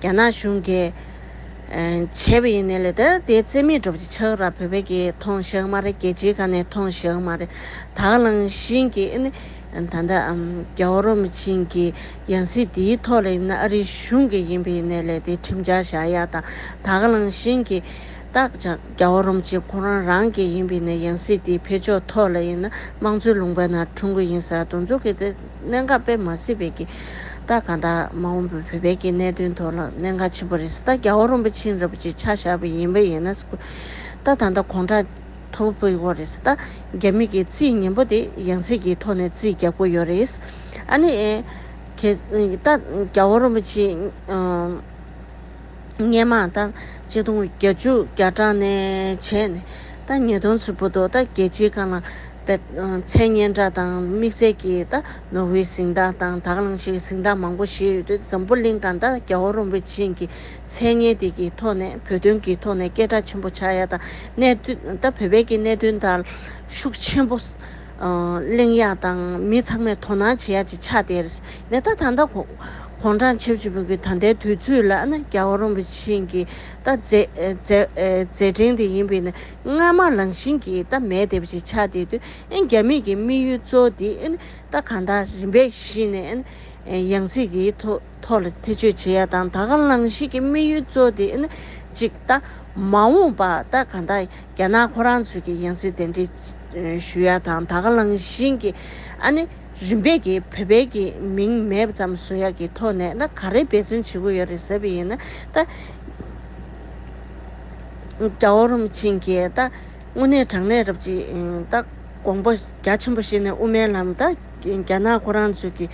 རྒྱ་ནག་གཞུང་གིས། བྱས་པ་ཡིན་ནི་ལས་དེ་དེའི་རྩེ་མིག་སྒྲུབ་བྱེད་ཆགས་ར་བོད་པའི་གིས་ཐོངས་ཞག་མ་རེད་རྒྱལ་སྤྱིའི་ཁ་ནས་ཐོངས་ཞག་མ་རེད་དྭགས་ལང་ཤིན་གྱིས་ནི། ད་ལྟ། རྒྱ་བོ་རོ་མི་ཆིན་གྱི་ཡང་སྲིད་དེའི་ཐོག་ལ་ཡིན་ན་ཨ་རིའི་གཞུང་གི་ཡིན་པ་ཡིན་ནི་ལས་དེའི་ཁྲིམས་འཆར་བཞག་ཡག་དང་དྭགས་ལང་ཤིན་གྱིས་བཏགས་ཅག་རྒྱ་བོ་རོ་མི་ཆིན་ཁོ་རང་རང་གི་ཡིན་པ་ཡིན་ན་ཡང་སྲིད་དེའི་འཕེལ་ཕྱོགས་ཐོག་ལ་ཡིན་ན་དམངས་གཙོའི་ལུང་པ་ན་འཁྲུངས་གི་ཡིན་ས་དུ་འཛུགས་གི། གནད་འགག་དཔེ་མ་སྲིད་པའི་གི་རྟགས་གང་དག་མ་འོངས་པའི་བོད་པའི་གི་གནད་དོན་ཐོག་ལ་གནད་འགག་ཆེན་པོ་རེད་ད་རྒྱ་བོ་རོམ་པ་ཆིན་ར་པ་ཅིག་ཆ་བཞག་པའི་ཡིན་པ་ཡིན་ན་སུ་ད་ད་ད་གོང་དྲག་ཐོ་བོ་པོའི་ཡོ་རེད་ད་རྒྱ་མི་གི་རྩིས་ངན་པོ་དེ་ཡང་སྲིད་གི་ཐོག་ནས་རྩིས་རྒྱག་པོ་ཡོ་རེད་ཨ་ནི་གེ་ད་རྒྱ་བོ་རོམ་པ་ཆིན་སྔས་མ་ད་གཅིག་སྟོང་བརྒྱ་བཅུ་བརྒྱ་གྲངས་ནས་བྱས་ནས་ད་ཉིས་སྟོང་ཚུད་པོ་འདུག་ད་རྒྱལ་སྤྱིའི་ཁང་ན། པའི་མཚན་སྙན་གྲགས་དང་དམིགས་བརྩེ་གྱི་རྟ་ནོར་བུའི་གཟིངས་རྟགས་དང་དག་སྣང་ཞིག་གི་གཟིངས་རྟགས་མང་པོ་བཞེས་ཡོད་དུས་འཛམ་བུ་གླིང་གང་དག་རྒྱ་བོ་རོམ་པའི་ཆིངས་ཀྱི་མཚན་སྙན་དེ་གི་ཐོག་ནས་བོད་དོན་གྱི་ཐོག་ནས་སྐད་གྲགས་ཆེན་པོ་ཆགས་ཡ་དང་གནད་དོན་ད་བོད་པའི་གནད་དོན་དག་ལ་ཤུགས་ཆེན་པོ་གླེང་ཡ་དང་མི་ཚང་མས་དོ་སྣང་བྱེད་ཡ་ཅིག་ཆགས་ཏེ་རེད་ནས་ད་ད་ལྟ་གོང་དྲང་ཆེ་བཅུ་བོད་ཀྱི་ད་ལྟའི་དུས་ཚོད་ལ་ནི་རྒྱ་བོ་རོམ་པའི་ཆིངས་ཀྱི་རྟ་མཛད་འཕྲིན་དེ་ཡིན་པས་ནས། སྔ་མ་རང་བཞིན་གྱིས་རྟ་མལ་དེ་བཞིན་ཆགས་དེ་དུས་རྒྱ་མིག་གི་དམིགས་ཡུལ་གཙོ་བོ་དེ་རྟ་གང་དག་རིམ་པས་ཤི་ནས་ཡང་སྲིད་དེའི་ཐོག་ལ་ཐེ་ཇུས་བྱེད་ཡ་དང་ད་ག་རང་བཞིན་གྱི་དམིགས་ཡུལ་གཙོ་བོ་དེ་གཅིག་རྟ། མ་འོངས་པར་རྟ་གང་དག་རྒྱ་ནག་ཁོ་རང་ཚོས་ཀྱི་ཡང་སྲིད་གདན་འདྲེན་ཞུ་ཡ་དང་ད་ག་རང་བཞིན་གྱི་རིམ་པས་ཀྱི་བོད་པའི་གྱི་མིང་མེད་ཙམ་བཟོ་ཡ་གྱི་ཐོག་ནས་ག་རེ་འབད་བརྩོན་བྱེད་དགོས་ཡོད་རེད་ཟེར་བ་ཡིན་ན་ད། རྒྱ་བོ་རོམ་བྱིན་གྱིས་བརྟག། སྔོན་གནས་དྲང་གནས་རབ་ཅིག་བརྟག། དགོངས་པ་རྒྱ་ཆེན་པོ་ཤེས་ནས་དབུ་མའི་ལམ་བརྟག། རྒྱ་ནག་ཁོ་རང་ཚོས་ཀྱི།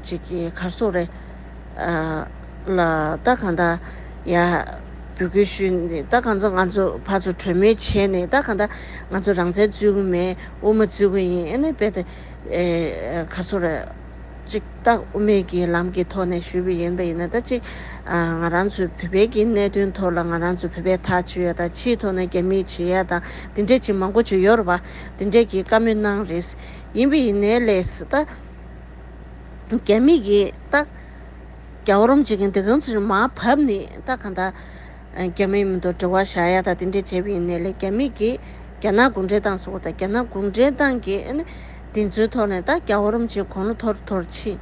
ཅིག་གི་གར་སོགས་རེད། ལ་བརྟག་གང་དག། ཡ། འབུལ་དགོས་ཞུས་ནས་བརྟག་གང་ཚོ་ང་ཚོ་ཕར་ཚུར་གྲོས་མོལ་བྱས་ནས་བརྟག་གང་དག། ང་ཚོ་རང་བཙན་རྩོད་ཀྱི་མེད་དབུ་མ་རྩོད་ཀྱི་ཡིན་ཨ་ནི་རྦད་དེ། གར་སོགས་རེད། གཅིག་སྟག་དབུ་མེད་ཀྱིས་ལམ་གྱི་ཐོག་ནས་ཞུས་པ་ཡིན་པ་ཡིན་ན་ད་གཅིག་ང་རང་ཚོའི་བོད་པའི་གྱི་གནད་དོན་ཐོག་ལ་ང་རང་ཚོའི་བོད་པའི་ཐག་ཆོད་ཡོད་དང་ཕྱིའི་ཐོག་ན་རྒྱ་མིའི་བྱེད་ཡ་དང་དེ་འདྲས་ཅིག་མང་པོ་བྱོས་ཡོད་རེད་པ་དེ་འདྲས་ཀྱི་བཀའ་མོལ་གནང་རེད། ཡིན་པ་ཡིན་ནའི་ལས་ད་རྒྱ་མིས་ཀྱིས་ད་རྒྱ་བོ་རོམ་བྱེད་མཁན་དེ་གང་ཚུ་རེད་མ་བབས་ནས་ད་གང་ད། རྒྱ་མིའི་མི་འདུག་འབྲེལ་བ་བཞག་ཡ་ད་དེ་འདྲས་བྱས་པ་ཡིན་ནའི་ལས་རྒྱ་མིས་ཀྱིས་རྒྱ་ནག་གུང་འབྲེལ་ཏང་ཟེར་བ་དང་རྒྱ་ནག་གུང་འབྲེལ་ཏང་གིས་ཨ་ནི་དེ་ཚོའི་ཐོག་ནས་ད་རྒྱ་བོ་རོམ་གྱིས་གོང་ལོ་ཐོར་ཐོར་ཕྱིན་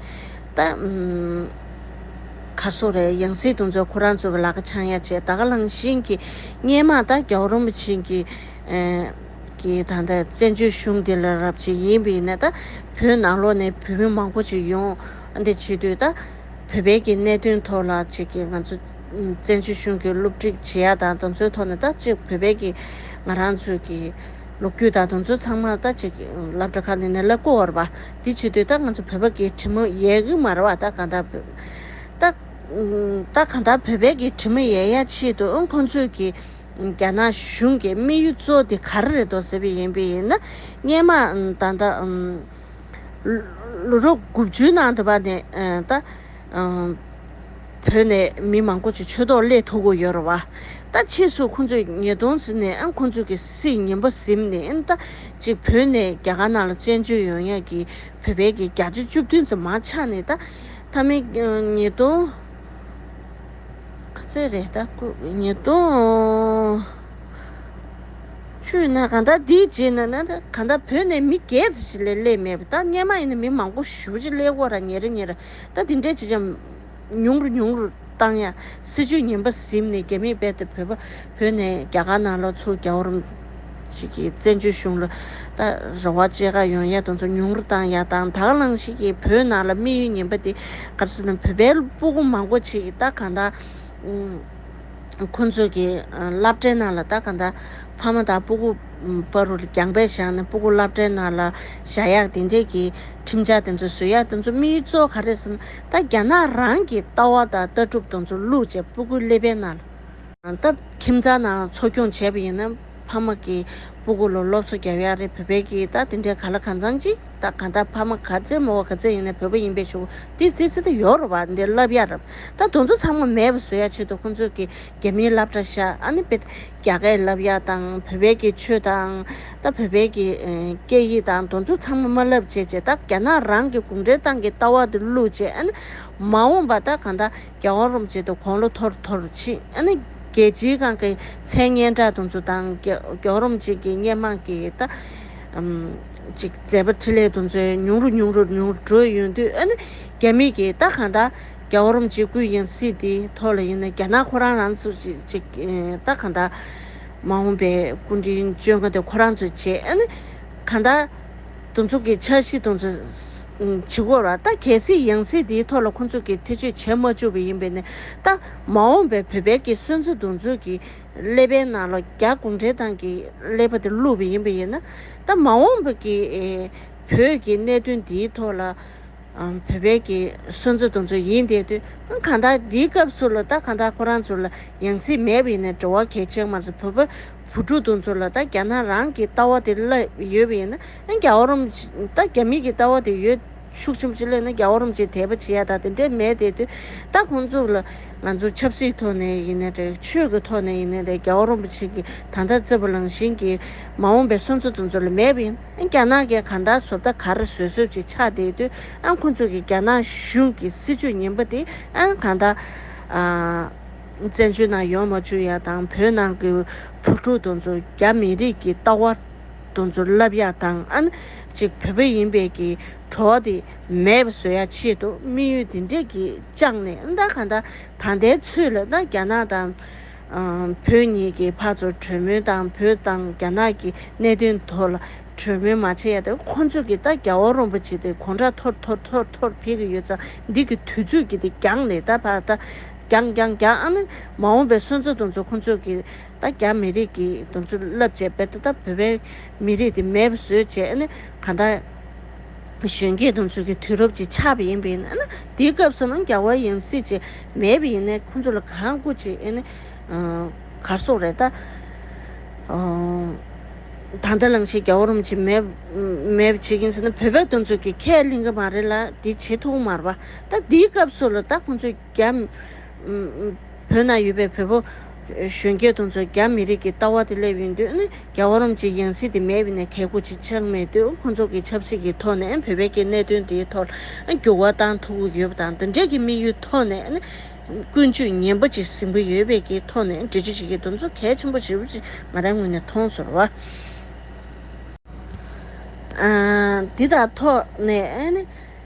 ད་གར་སོང་རེད་ཡང་སྲིད་དུ་འཛོལ་ཁོ་རང་ཚོ་གི་ལག་ཁ་འཆང་ཡ་བྱས་ད་ག་ལང་གཞིན་གྱི་སྙན་མ་ད་རྒྱ་བོ་རོམ་པ་ཕྱིན་གྱི་གྱིས་ད་ད་བཙན་བྱོལ་གཞུང་འདི་ལ་རབ་བྱེད་ཡིན་པ་ཡིན་ནའི་ད་བོད་ནང་ལོག་ནས་བོད་མི་མང་པོ་ཅིག་ཡོང་འདི་བྱེད་དུས་ད་བོད་པའི་གྱི་གནད་དོན་ཐོག་ལ་ཅིག་གི་ང་ཚོ། བཙན་བྱོལ་གཞུང་གི་སློབ་ཁྲིད་བྱེད་ཡག་དང་དང་ཚོའི་ཐོག་ནས་ལྟ་ཅིག་བོད་པའི་གི་ང་རང་ཚོའི་གི་ལོ་རྒྱུས་དང་དང་ཚོའི་ཚང་མར་ལྟ་ཅིག་ལབ་དྲ་ཁ་ནས་ནས་ལབ་གོ་བར་བ་འདི་བྱེད་དུས་ལྟ་ང་ཚོ་བོད་པ་གི་གྲི་མོ་ཡའི་གི་མར་བ་ལྟ་གང་དག་བོད་ལྟ་གང་དག་བོད་པའི་གི་གྲི་མོ་ཡའི་ཡ་ཆེད་དུ་ཨང་ཁོང་ཚོའི་གི་རྒྱ་ནག་གཞུང་གི་དམིགས་ཡུལ་གཙོ་དེ་ག་རེ་རེད་དོ་ཟེར་བའི་ཡིན་པའི་ཡིན་ན་སྙན་མ་ད་ལྟ་ལོ་རོ་དགུ་བཅུའི་ནང་དུ་བ་ནས་ལྟ། བོད་ནས་མི་མང་པོ་ཆུ་ཆོད་ཏོག་ལས་ཐུག་གོ་ཡོད་ར་བ། ད་ཕྱིས་སུ་ཁོང་ཚོས་ཉེས་རྡུང་བཟི་ནས་ཁོང་ཚོ་གི་སི་ཉིན་པ་གཟིམ་ནས་ད་ཅིག་བོད་ནས་རྒྱ་གར་ནང་ལ་བཙན་བྱོལ་ཡོང་ཡག་གི་བོད་པའི་གི་བརྒྱ་ཆ་བཅུ་བདུན་ཙམ་མང་ཆགས་ནས་ད་ད་མི་ཉེས་རྡུང། ག་ཚད་རེད་ད་སྐུ་ཉེས་རྡུང། བཅུ་ན་ག་ད་དེའི་རྗེས་ན་ན་ད་ག་ད་བོད་ནས་མི་བརྒྱད་ཅིག་ལས་སླེབས་མེད་པ་ད་སྙན་མ་ཡིན་ན་མི་མང་པོ་བཞུགས་རྗེས་སླེབས་གོ་ར་ཉེ་ར་ཉེ་ར། ད་དེ་འདྲས་ཅི་བྱམས། ཉུང་རུ་ཉུང་རུ་བཏང་ཡ། སྲིད་ཇུས་ངན་པ་གཟིམས་ནས་རྒྱ་མིས་རྦད་དེ་བོད་པ་བོས་ནས་རྒྱ་གར་ནང་ལོག་ཚུར་རྒྱ་བོ་རུམ། ཞིག་གིས་བཙན་བྱོལ་གཞུང་ལོ། ད་རེ་བ་ཅེ་དགའ་ཡོང་ཡ་དང་ཚོ་ཉུང་རུ་བཏང་ཡ་དང་དག་བླངས་ཞིག་གིས་བོད་ནང་ལ་དམིགས་ཡུལ་ངན་པ་དེ་གར་སྲིད་ནང་བོད་པའི་སྤུ་གུ་མང་པོ་ཆེ་གིས་ད་གང་དག། ཁོ་ཚོས་ཀྱི་རླབས་སྒྲའི་ནང་ལ་ད་ག་ད་ཕ་མ་དང་སྤུ་གུ་སྤ་རུ་རྒྱང་པས་བཞག་ནས་སྤུ་གུ་རླབས་སྒྲའི་ནང་ལ་བཞག་ཡག་དེ་འདྲས་ཀྱི་ཁྲིམས་འཆར་དེ་ཚོ་བཟོས་ཡག་དེ་ཚོ་དམིགས་ཡུལ་གཙོ་བོ་ག་རེད་ཟེར་ན་ད་རྒྱ་ནག་རང་གི་ལྟ་བ་དང་ལྟ་གྲུབ་དང་ཚོ་ལུགས་བཅས་སྤུ་གུའི་ཀླད་པའི་ནང་ལ། ད་ཁྱིམ་ཚང་ནང་འཚོ་སྐྱོང་བྱས་པ་ཡིན་ན། ཕ་མ་གིས་སྤུ་གུ་ལོ་སློབ་གསོ་རྒྱབ་ཡག་རེད་བོད་པའི་གིས་ད་དེ་འདྲའི་ག་ལ་ག་ཚང་ཅིག་ད་ག་ད་ཕ་མ་ག་ཚོད་མོ་བ་ག་ཚོད་ཡིན་ན་བོད་པ་ཡིན་པའི་ཞུགས་ཏི་ཏི་ཚི་ཏི་ཡོག་རོ་བ་འདི་ལབ་ཡག་རབ་ད་དོན་ཚོ་ཚང་མ་མེད་པ་བཟོ་ཡག་ཆེད་དུ་ཁོང་ཚོས་གིས་རྒྱ་མིའི་ལབ་གྲ་ཤ་ཨ་ནི་པེ་ད་རྒྱ་གས་ལབ་ཡག་དང་བོད་པའི་གིས་ཆོས་དང་ད་བོད་པའི་གིས་སྐད་ཡིག་དང་དོན་ཚོ་ཚང་མ་མ་ལབ་བྱས་བྱས་ད་རྒྱ་ནག་རང་གིས་གུང་ཁྲན་ཏང་གིས་ལྟ་བ་དེ་བླུག་བྱས་ཨ་ནི་མ་འོངས་པ་ད་ག་ད། རྒྱ་དབང་རུམ་བཅད་དུ་གོང་ལོ་ཐོར་ཐོར་ཕྱིན། རྒྱལ་སྤྱིའི་ཁང་གི་མཚན་སྙན་གྲགས་དུང་ཆུ་དང་གྱོག་རུམ་བཅས་ཀྱི་སྙན་དམངས་ཀྱི་ད་ཅིག་མཛད་པ་ཁྲི་ལས་དུང་ཆུ་ཉུང་རུ་ཉུང་རུ་ཉུང་རུ་བྲོས་ཡོང་དུས་ཨ་ནི་རྒྱ་མིས་ཀྱི་ད་གང་ད་རྒྱ་དབང་རུམ་བཅད་ཀུན་ཡང་སྲིད་དེའི་ཐོག་ལ་ཡིན་ན་རྒྱ་ནག་ཁོ་རང་རང་ཚོ་ཅིག་ད་གང་ད་མ་འོངས་པའི་སྐུ་དྲིན་བཅོལ་འགའ་དེ་ཁོ་རང་ཚོས་བྱེད་ཨ་ནི་གང་ད། དུ་མཚུངས་ཀྱི་འཆར་གཞི་དང། བྱེད་སྒོ་ར་ལྟ་གལ་སྲིད་ཡང་སྲིད་དེའི་ཐོག་ལ་ཁོ་ཚོ་ཀྱིས་ཐེ་བྱུས་བྱེད་མ་བཅུག་པ་ཡིན་པས་ནས་ད་མ་འོངས་པའི་བོད་པའི་ཀྱི་སོན་རྩ་དུ་མཚུངས་ཀྱི་ཀླད་པའི་ནང་ལ་རྒྱ་གུང་ཁྲན་ཏང་གི་ཀླད་པ་དེ་བླུགས་པ་ཡིན་པས་ན་ད་མ་འོངས་པ་ཀྱི་བོད་ཀྱི་གནད་དོན་འདིའི་ཐོག་ལ་བོད་པའི་ཀྱི་སོན་རྩ་དུ་མཚུངས་ཡིན་བསྡད་དུས་གང་དག་འདིའི་སྐབས་སུ་ལ་ད་གང་དག་ཁོ་རང་ཚོ་ལ་ཡང་སྲིད་མེད་པས་ནས་འགྲོ་བ་གལ་ཆེན་མ་ཟད་བོད་པ་བུ་ཕྲུག་དེ་ཚོ་ལ་ད་རྒྱ་ནག་རང་གི་ལྟ་བ་དེ་སླད་ཡོད་པ་ཡིན་ན་ཨ་རྒྱ་བོ་རོམ་ད་རྒྱ་མི་གི་ལྟ་བ་དེ་ཡོད་ཤུགས་ཆེན་པོ་ཅི་སླད་ན་རྒྱ་བོ་རོམ་ཆེ་དད་པ་བྱེད་ཡ་ད་དེ་འདྲས་མེད་དེ་དུས་ད་ཁོང་ཚོ་ལ་ང་ཚོ་ཆབ་སྲིད་ཐོག་ནས་ཡིན་ན་དྲ་ཆོས་གི་ཐོག་ནས་ཡིན་ན་དད་རྒྱ་བོ་རོམ་པ་ཆེ་གི་ད་ལྟ་བརྩེ་བ་ལང་བཞིན་གི་མ་འོངས་པའི་སོན་རྩ་དེ་ཚོ་ལ་མེད་པ་ཡིན་ཨ་རྒྱ་ནག་གི་ག་ད་བཟོ་ད་གར་བཟོད་བཟོད་ཅིག་ཆགས་བསྡད་དུས་ཨ་ཁོང་ཚོ་གི་རྒྱ་ནག་གཞུང་གི་སྲིད་ཇུས་ངན་པ་དེ་ཨ་ག་ད་ཨ། བཙན་བྱོལ་ནང་ཡོང་མ་བཅུག་ཡ་དང་བོད་ནང་གི་བུ་ཕྲུག་དང་ཚོ་རྒྱ་མི་རིགས་ཀྱི་ལྟ་བ་དང་ཚོ་བསླབ་ཡ་དང་ཨན་ཅིག་བོད་པ་ཡིན་པས་ཀྱི་བྲོ་བ་དེ་མེད་པ་བཟོ་ཡ་ཆེད་དུ་དམིགས་ཡུལ་དེ་འདྲས་ཀྱི་བཅངས་ནས་ཨན་ད་ག་འདྲ་ད་ལྟའི་ཚུལ་ལ་ད་རྒྱ་ནག་དང་བོད་གཉིས་ཀྱི་བར་ཚོ་གྲོས་མོལ་དང་བོད་དང་རྒྱ་ནག་གི་གནད་དོན་ཐོག་ལ་གྲོས་མོལ་མ་བྱེད་ཡ་དེ་ཁོ་ཚོས་ཀྱི་ད་རྒྱ་བོ་རོམ་པ་ཆེ་དེ་གོང་ཁྲ་ཐོར་ཐོར་ཐོར་ཐོར་འཕེལ་གྱི་ཡོད་ཙང་འདི་ཀྱི་དུས་ཚོད་ཀྱི་དེ་འགྱངས་ནས་ད་བར་ད་རྒྱང་རྒྱང་རྒྱང་ཨ་ནི་མ་འོངས་པའི་སོན་རྩ་དུང་ཚོ་ཁོང་ཚོས་ཀྱི་ད་རྒྱ་མི་རིགས་ཀྱི་དུང་ཚོ་རླབས་ཆེ་བས་ད་ད་བོད་པའི་མི་རིགས་དེ་མེད་བཟོས་བྱས་ཨ་ནི་ག་ད་གཞོན་སྐྱེས་དུང་ཚོ་གི་དུས་རབས་ཀྱི་ཆགས་པ་ཡིན་པས་ཨ་ནི་དེའི་སྐབས་སུ་ནང་རྒྱ་བ་ཡང་སྲིད་ཅིག་མེད་པས་ཡིན་ནས་ཁོང་ཚོ་ལ་གང་སྐུ་ཅིག་ཨ་ནི་གར་སོག་རེད་ད། ད་ད་ལང་ཤེས་རྒྱ་བ་རུམ་ཅིག་མེད་མེད་བྱེད་ཀྱིན་ཟེར་ན་བོད་པའི་དུང་ཚོ་གི་ཁས་ལེན་གི་མ་རེད་ལ་དེ་བྱེད་ཐུག་མར་བ་ད་དེའི་སྐབས་སུ་ལ་ད་ཁོང་ཚོས། རྒྱ། བོད་ནང་ཡོད་པའི་བོད་པོ། གཞོན་སྐྱེས་དུང་ཚོས་རྒྱ་མི་རིགས་ཀྱི་ལྟ་བ་དེ་སླེབས་ཡོད་དུས་ནི་རྒྱ་བ་རོམ་གྱི་ཡང་སྲིད་དེ་མེད་པའི་ནས་གལ་གོ་ཆི་ཆགས་མེད་དུས་ཁོང་ཚོ་གི་ཆབ་སྲིད་ཀྱི་ཐོག་ནས་བོད་པའི་ཀྱི་གནད་དོན་དེའི་ཐོག་ལ་འགྱུར་བ་གཏང་ཐུབ་གི་ཡོད་པ་དང་འདི་འདྲའི་ཀྱི་དམིགས་ཡུལ་ཐོག་ནས་ནི་ཀུན་སྤྱོད་ངན་པ་ཅིག་ཟིན་པོ་ཡོད་པའི་ཀྱི་ཐོག་ནས་འབྲེལ་བརྗོད་བྱེད་ཀྱི་འདུག་ཚོ་གལ་ཆེན་པོ་ཞིག་རུ་ཅིག་ང་རང་ངོས་ནས་མཐོང་ཚོར་བ། འདི་དག་ཐོག་ནས་ནི།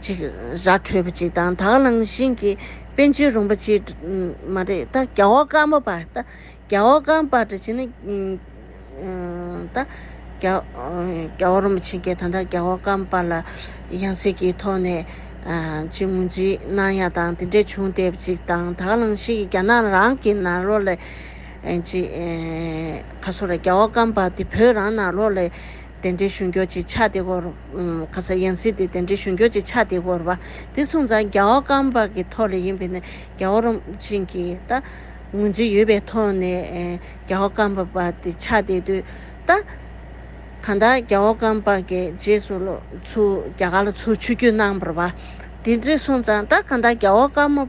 ཅིག། ར་འཕྲོད་པ་ཅིག་དང་དག་སྣང་བཞིན་གྱི་དཔེ་འབྱེད་རུང་བ་ཅིག། མ་རེད་ད་རྒྱ་བོ་སྐམ་པོ་པ། ད་རྒྱ་བོ་སྐམ་པ་འདྲ་བྱས་ན། ད་རྒྱ་བོ་རུང་བ་ཅིག་གིས་ད་ལྟ་རྒྱ་བོ་སྐམ་པ་ལ་ཡང་སྲིད་ཀྱི་ཐོག་ནས་ཅིག་ངོས་འཛིན་གནང་ཡ་དང་དེ་འདྲས་བྱུང་བསྡད་པ་ཅིག་དང་དག་སྣང་བཞིན་གྱི་རྒྱ་ནག་རང་གི་ནང་ལོགས་ལས། ཅིག། ཁ་སོ་ར་རྒྱ་བོ་སྐམ་པ་དེ་བོད་རང་ནང་ལོགས་ལས། དེ་འདྲའི་གཞུང་འགྱུར་གྱི་ཆ་དེ་སྐོར། ཁ་སང་ཡང་སྲིད་དེ་དེ་འདྲའི་གཞུང་འགྱུར་གྱི་ཆ་དེ་སྐོར་བ། དེ་སོང་ཙང་རྒྱ་བོ་སྐམ་པ་གི་ཐོག་ལས་ཡིན་པས་ན་རྒྱ་བོ་རོམ་ཆེན་གྱི་ད་ངོས་འཛིན་ཡོད་པའི་ཐོག་ནས་རྒྱ་བོ་སྐམ་པ་བ་དེ་ཆ་དེ་དུས་ད། གང་ལྟར་རྒྱ་བོ་སྐམ་པ་གི་རྗེས་སུ་ལོ་ཚུར་རྒྱ་གར་ལ་ཚུར་ཆུ་རྒྱུས་གནང་བར་བ། དེ་འདྲས་སོང་ཙང་ད་གང་ལྟར་རྒྱ་བོ་སྐམ།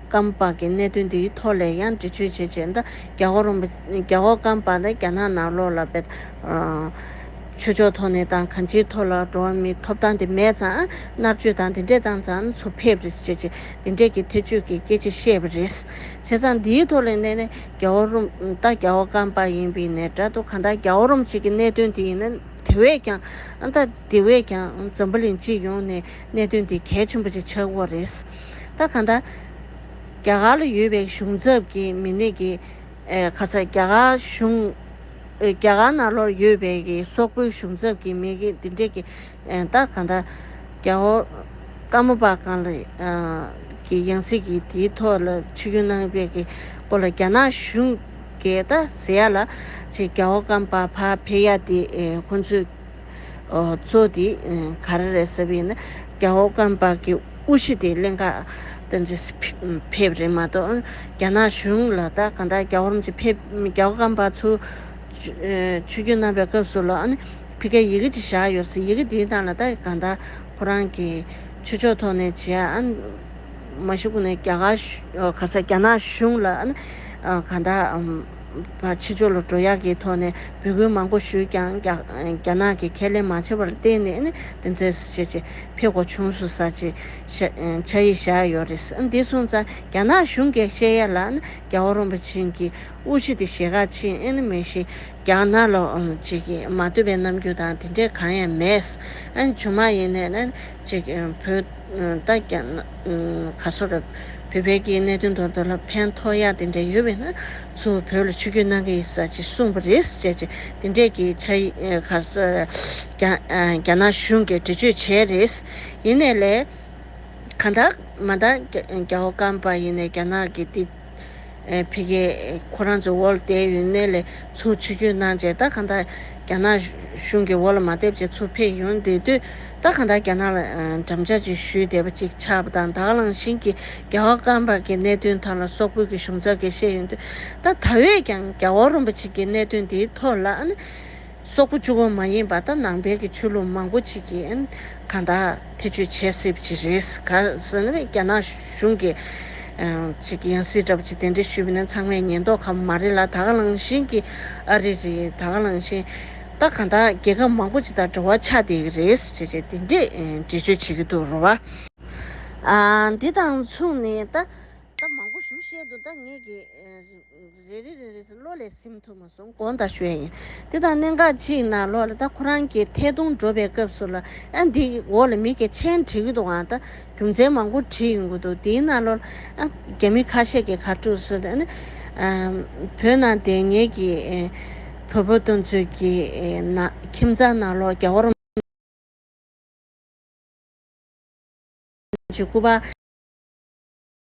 སྐམ་ལྤགས་ཀྱི་གནད་དོན་འདིའི་ཐོག་ལས་ཡང་འབྲི་ཆོད་བྱེད་ཆེད་ཟླ་རྒྱ་ཧོར་རོང་པ། རྒྱ་ཧོར་སྐམ་ལྤགས་དང་རྒྱ་ནག་ནག་ལོག་ལ་འབད། ཆོས་ཕྱོགས་ཐོག་ནས་དང་གང་ཅིའི་ཐོག་ལ་འགྲོ་བ་མིའི་ཐོབ་ཐང་དེ་མེད་ཙང་མནར་གཅོད་དང་དེ་འདྲས་བཏང་ཙང་ཚུར་ཕེབས་རེས་བྱེད་ཆེད་དེ་འདྲས་ཀྱི་ཐེ་ཇུས་ཀྱི་སྐད་ཆ་བཤད་པ་རེད། བྱས་ཙང་འདིའི་ཐོག་ལས་འདས་ནས་རྒྱ་ཧོར་རོང་ད་རྒྱ་ཧོར་སྐམ་ལྤགས་ཡིན་པའི་ནས་འདྲ་འདུག་གང་ལྟར་རྒྱ་ཧོར་རོང་བཅས་ཀྱི་གནད་དོན་འདི་ཡིན་ན་དེ་བས་ཀྱང་ཨང་ད་དེ་བས་ཀྱང་འཛམ་བུ་གླིང་སྤྱི་ཡོངས་ནས་གནད་དོན་འདི་གལ་ཆེན་པོ་ཅིག་ཆགས་འོག་རེད། ད་ག་ད། རྒྱ་གར་ལ་ཡོད་པའི་གཞུང་ཚབ་ཀྱི་མི་སྣས་ཀྱི། ག་ཚ་རྒྱ་གར་གཞུང། རྒྱ་གར་ནང་ལོར་ཡོད་པའི་ཀྱི་སོག་པོའི་གཞུང་ཚབ་ཀྱི་མི་ཀྱི་འདི་འདྲས་ཀྱི། ད་ག་ད། རྒྱ་བོ། ཀ་མོ་པ་གང་ལ། ཀྱི་ཡང་སྲིད་ཀྱི་དེའི་ཐོག་ལ་ཆི་རྒྱུན་གནང་བའི་ཀྱི་སྐོར་ལ་རྒྱ་ནག་གཞུང། གས་ད་ཟེ་ཡ་ལ། ཆེ་རྒྱ་བོ་ཀམ་པ་བ་བྷེ་ཡ་དེ་ཁོ་ཚོས། གཙོ་དེ་ག་རེ་རེད་ཟེར་བ་ཡིན་ན་རྒྱ་ཨོ་རྐང་པགས་ཀྱི་དབུ་ཞི་དེ་གླེན་ཁ་དང་རྗེས་སུ་ཕེབས་རེད་མ་གཏོགས་རྒྱ་ནག་གཞུང་ལ་ད་གང་དག་རྒྱ་ཨོ་རམ་གྱི་ཕེབས་རྒྱ་ཨོ་རྐང་པགས་ཚུར་ཆུ་རྒྱུན་བསྣམས་པའི་སྐབས་སུ་ལ་ཕི་ཀའི་ཡི་གེ་ཅིག་བཞག་ཡོད་སྲིད་ཡི་གེ་དེའི་སྟངས་ལ་ད་གང་དག་ཁོ་རང་གི་ཆོས་ཕྱོགས་ཐོག་ནས་བྱས་ཨ་མ་ཤི་ཁུ་ནས་རྒྱ་གར་ག་ས་རྒྱ་ནག་གཞུང་ལ་གང་དག་པ་ཕྱི་ཕྱོགས་ལ་འགྲོ་ཡག་གི་ཐོག་ནས་འབོད་སྐུལ་མང་པོ་ཞུས་ཀྱང་རྒྱ་ནག་གིས་ཁས་ལེན་མ་བྱས་པར་བརྟེན་ནས་ནི་དེ་མཛད་སི་བྱས་ཅི་ཕེ་གོ་ཆུང་སུ་ས་ཅི་བྱ་ཡི་བཞག་ཡོད་རེད་ཟེར་འདི་སོང་ཙང་རྒྱ་ནག་གཞུང་གི་བཤད་ཡ་ལ་ནི་རྒྱ་བོ་རོན་པ་ཆེན་གྱི་དབུ་ཁྲིད་དེ་ཞེ་གག་ཆེན་ཨེ་ནི་མེད་ཤེ། རྒྱ་ནག་ལོ་ཅིག་གིས་མ་བསྟོད་པའི་རྣམ་འགྱུར་དང་དེ་འདྲའི་གང་ཡང་མེད། ཇོ་མ་ཡིན་ནས་ནི། ཅིག་བོད། ད་རྒྱ་ནག། བར་སོ་རབ། བོད་བལ་གྱི་གནད་དོན་དོར་འདུག་ལ་ཕན་ཐོག་ཡག་དེ་འདྲ་ཡོད་པས་ན། ཚུར་བོད་ལ་ཆུ་རྒྱུས་གནང་གི་ཡིན་ས་ཅིག་གསུངས་པ་རེད་ཟེར་ཅིག་དེ་འདྲས་ཀྱི་ཆ་གར་སོ། རྒྱ་ནག་གཞུང་གིས་འདྲི་གཅོད་བྱས་རེད། ཡིན་ནས་ལས། གང་ལྟར། མ་མཐའ་རྒྱ་བོ་སྐམ་པ་ཡིན་ནས་རྒྱ་ནག་གིས་འདི། ཕི་གེ། ཁོ་རང་ཚོའི་འོག་ཏའི་ཡུན་ནན་ལས་ཚུར་ཆུད་རྒྱུ་གནང་རྗེས་ཏཱ་གྷ་དྷ། རྒྱ་ནག་གཞུང་གི་འོག་ལ་མ་སྡེབ་ཅིག་ཚུར་ཕེབས་ཡོང་བསྡད་དུས། ཏཱ་གྷ་དྷ་རྒྱ་ནག་ལ་འགྲམ་ལྕག་ཅིག་གཞུས་བསྡད་པ་ཅིག་ཆགས་པ་དང་དྭགས་གླང་ཤིང་གིས་རྒྱ་བོ་སྐམ་པར་གྱི་གནད་དོན་ཐོག་ལ་སོག་པོའི་གི་གཞུང་ཚབ་ཀྱིས་བཤད་ཡོང་དུས། ཏཱ་གྷ་དྷ་བས་ཀྱང་རྒྱ་བོ་རུམ་པ་ཅིག་གི་གནད་དོན་དེའི་ཐོག་ལ། སོག་པོ་བཅུ་བ་མ་ཡིན་པ་དང་ནང་པའི་གི་ཆོས་ལུགས་མང་པོ་ཅིག་གིས་ག་ད་ཐེ་ཆོས་བྱེད་སྲིད་པ་ཅིག་རེད། ག་ཟེར་ན་རྒྱ་ནག་གཞུང་གི་ཅིག་ཡང་སྲིད་འདྲ་པོ་ཅིག་དེ་འདྲས་ཞུས་པ་ནི་ཚང་མས་ཉན་མདོག་ག་མ་རེད་ལ་ད་ག་ལང་བཞིན་གི་ཨ་རི་རེད་ད་ག་ལང་བཞིན་ད་ག་ད་རྒྱལ་ཁབ་མང་པོ་ཅིག་དང་འབྲེལ་བ་ཆགས་བསྡད་ཀྱི་རེད་ཅེས་ཅེས་དེ་འདྲས་འགྲེལ་བརྗོད་བྱེད་ཀྱི་འདུག་རོ་བ། འདི་དང་མཚུངས་ནས་ད་ད་མང་པོ་ཞུ་བཤད་འདུག་ད་ངས་གི། རེ་རེ་རེ་རེ་ཟིན་བློ་ལས་སིམ་ཐུབ་མ་སོང་གོང་དང་ཞོལ་ཡིན། དེ་དང་གནད་འགག་གཅིག་ན་ལོ་ལ་ད་ཁོ་རང་གིས་ཐད་གཏོང་སྒྲོག་པའི་སྐབས་སུ་ལ་ཨ་འདི་འོག་ལ་མི་སྐད་ཆེན་བྲིས་གི་འདུག་ཨང་ད་རྒྱུ་མཚན་མང་པོ་བྲིས་ཡོང་གི་འདུག་དེའི་ན་ལོ་ལ་ཨ་རྒྱ་མི་ཁ་ཤས་ཀྱིས་གར་སྤྲོ་ཟེར་ཨ་ནི་བོད་ནང་བསྡད་ངེས་ཀྱི་བོད་པོ་སྟོན་ཚོད་ཀྱི་ན་ཁྱིམ་ཚང་ན་ལོ་རྒྱ་བོར་འཇུག་གི་བ།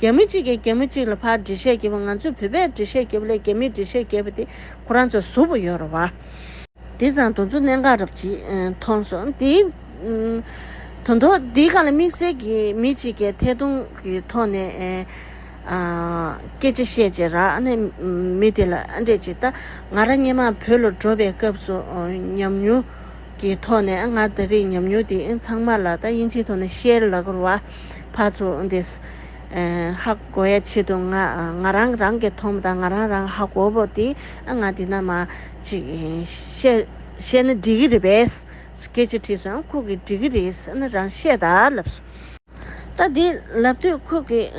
རྒྱ་མི་གཅིག་གིས་རྒྱ་མི་གཅིག་ལ་ཕར་འགྲེལ་བཤད་བགྱིས་པ་ང་ཚོས་བོད་པས་འགྲེལ་བཤད་བགྱིས་པ་ལས་རྒྱ་མིས་འགྲེལ་བཤད་བགྱིས་པ་དེ་ཁོ་རང་ཚོར་གཟུ་བོ་ཡོད་རེད་བ། དེ་བཟང་དོན་གཙོ་གནད་འགའ་རབ་ཅིག་མཐོང་སོང། དེ་དོན་ཐོག་འདི་ག་ལ་དམིགས་བསལ་གྱིས་མི་གཅིག་གས་ཐད་གཏོང་གི་ཐོག་ནས་སྐད་ཆ་བཤད་རྗེས་རག་ན་མི་དེ་ལ་ཨ་འདྲས་ཅིག་ལྟ། ང་རང་སྙན་མང་བོད་ལ་འགྲོ་བའི་སྐབས་སུ་ཉམས་མྱོང་ཀྱི་ཐོག་ནས་ང་ད་རེས་ཉམས་མྱོང་དེ་ཚང་མ་ལ་ད་དབྱིན་ཇིའི་ཐོག་ནས་བཤེར་ལ་གོར་བ་ཕར་ཚུར་འདེད། ཧ་གོ་ཡ་ཆེད་དུ་ང་ང་རང་རང་གི་ཐོག་མ་དང་ང་རང་རང་ཧ་གོ་བོ་དེ་ང་འདི་ན་མ་ཅིག་བཤད་བཤད་ན་འགྲིག་གི་རེད་པས། སྐད་ཆ་དྲིས་སོང་ཁུག་གི་འགྲིག་གི་རེད་ཟེར་ན་རང་བཤད་ད་ལབ་སོང། ད་དེ་ལབ་དུས་ཁོ་གིས་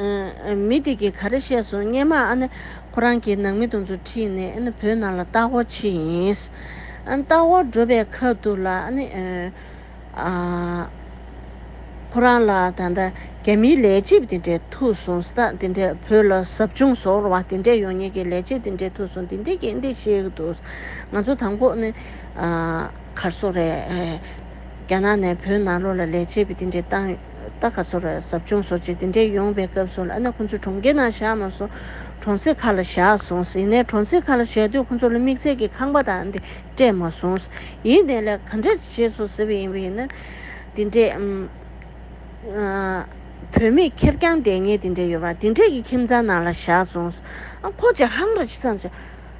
མི་དེ་གིས་ག་རེ་བཤད་སོང་སྙན་མ་ཨ་ནི་ཁོ་རང་གིས་ནང་མི་དང་ཚུར་ཁྲིད་ནས་ཨ་ནི་བོད་ནང་ལ་ལྟག་འོག་ཕྱི་ཡིན། ལྟག་འོག་འགྲོ་པའི་ཁ་ཐུག་ལ་ཨ་ནི་ཁོ་རང་ལ་ད་ལྟ་རྒྱ་མིའི་ལས་བྱེད་དེ་འདྲས་ཐུག་སོང་ཟ་དེ་འདྲས་བོད་ལ་ཟབ་སྦྱོང་ཟོར་བ་དེ་འདྲས་ཡོང་ཉེ་གི་ལས་བྱེད་དེ་འདྲས་ཐུག་སོང་དེ་འདྲས་ཀྱིས་འདི་བཤད་གི་འདུག་ང་ཚོ་དང་པོ་ཨ་ནི། གར་སོགས་རེད། རྒྱ་ནག་ནས་བོད་ནང་ལོགས་ལ་ལས་བྱེད་པའི་དེ་འདྲའི་ཏང་རྟགས་ག་ཚོད་རེད་ཟབ་སྦྱོང་སོགས་བྱས་དེ་འདྲའི་ཡོང་བའི་སྐབས་སོགས་ལ་ཨ་ན་ཁོང་ཚོ་གྲོང་ཁྱེར་ནང་བཞག་མ་སོང། གྲོང་གསེབ་ཁག་ལ་བཞག་སོང། ཡིན་ནའི་གྲོང་གསེབ་ཁག་ལ་བཞག་དུས་ཁོང་ཚོ་ལ་དམིགས་བསལ་གྱི་ཁང་པ་དང་འདི་སྤྲད་མ་སོང། ཡིན་དེ་ལས་ག་འདྲ་བྱས་སོང་ཟེར་བ་ཡིན་པ་ཡིན་ན། དེ་འདྲའི། བོད་མི་ཁེར་རྐྱང་བསྡད་ངེས་དེ་འདྲས་ཡོད་པ་དེ་འདྲས་ཀྱི་ཁྱིམ་ཚང་ནང་ལ་བཞག་སོང། ཨ་ཁོ་ཅག་ཧང་ར་ཅི་ཙམ་བྱས།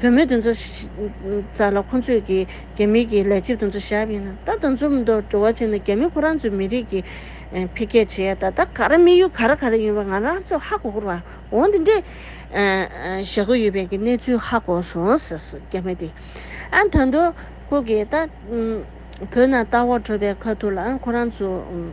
བུ་མོའི་འདུ་འཛོ་ཟ་ལ་ཁོ་ཚོས་ཀྱི་རྒྱ་མི་གྱི་ལས་བྱེད་འདུ་འཛོ་ཞབས་ཡིན་ན་ད་དུ་འཛོ་མི་འདུག་འགྲོ་བ་ཆེ་ན་རྒྱ་མི་ཁོ་རང་ཚོའི་མི་རིགས་ཀྱི་འཕེལ་རྒྱས་བྱེད་ཡ་ད་ད་ག་ར་མི་ཡུལ་ག་ར་ག་ར་ཡིན་པ་ང་རང་ཚོས་ཧ་གོ་གོ་ར་འོང་འདི་འདྲའི་ཞེ་གོ་ཡོད་པའི་གྱི་གནས་ཚུལ་ཧ་གོ་སོང་ཟེར་སོ་རྒྱ་མི་དེ་ཨ་ད་འདུག་ཁོ་གྱི་ད་བོད་ནང་ལྟ་བ་འཕྲོ་པའི་ཁ་ཐུག་ལ་ཁོ་རང་ཚོ།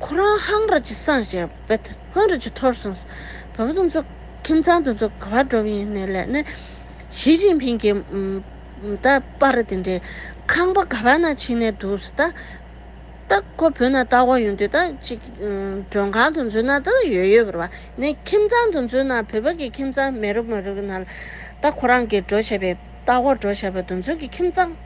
ཁོ་རང་ཧང་ར་ཅི་སངས་རྒྱས་བེད་ཧོན་ར་ཅི་ཐོར་སོང་ཟེར། བོད་དོན་ཚོགས་ཁིམ་ཚང་དོན་ཚོགས་ག་བ་འགྲོ་བ་ཡིན་ནའི་ལས་ནི། ཞི་ཅིན་ཕིན་གྱི་ད་པ་ར་དེ་འདྲའི་ཁང་པ་ག་བ་ན་ཕྱིན་ནའི་འདུག་ཟེར་ད། ད་ཁོ་བོད་ན་ལྟ་དགོས་ཡོང་དུས་ད་ཅིག་མགྲོན་ཁང་དོན་ཚོགས་ན་ད་ཡོད་ཡོད་བར་བ་ནས་ཁིམ་ཚང་དོན་ཚོགས་ན་བོད་པ་གི་ཁིམ་ཚང་མེད་རུབ་མ་རུབ་ན་ལ། ད་ཁོ་རང་གི་འགྲོ་བྱས་པའི་ལྟ་དགོས་འགྲོ་བྱས་པ་དོན་ཚོགས་ཀྱི་ཁིམ་ཚང།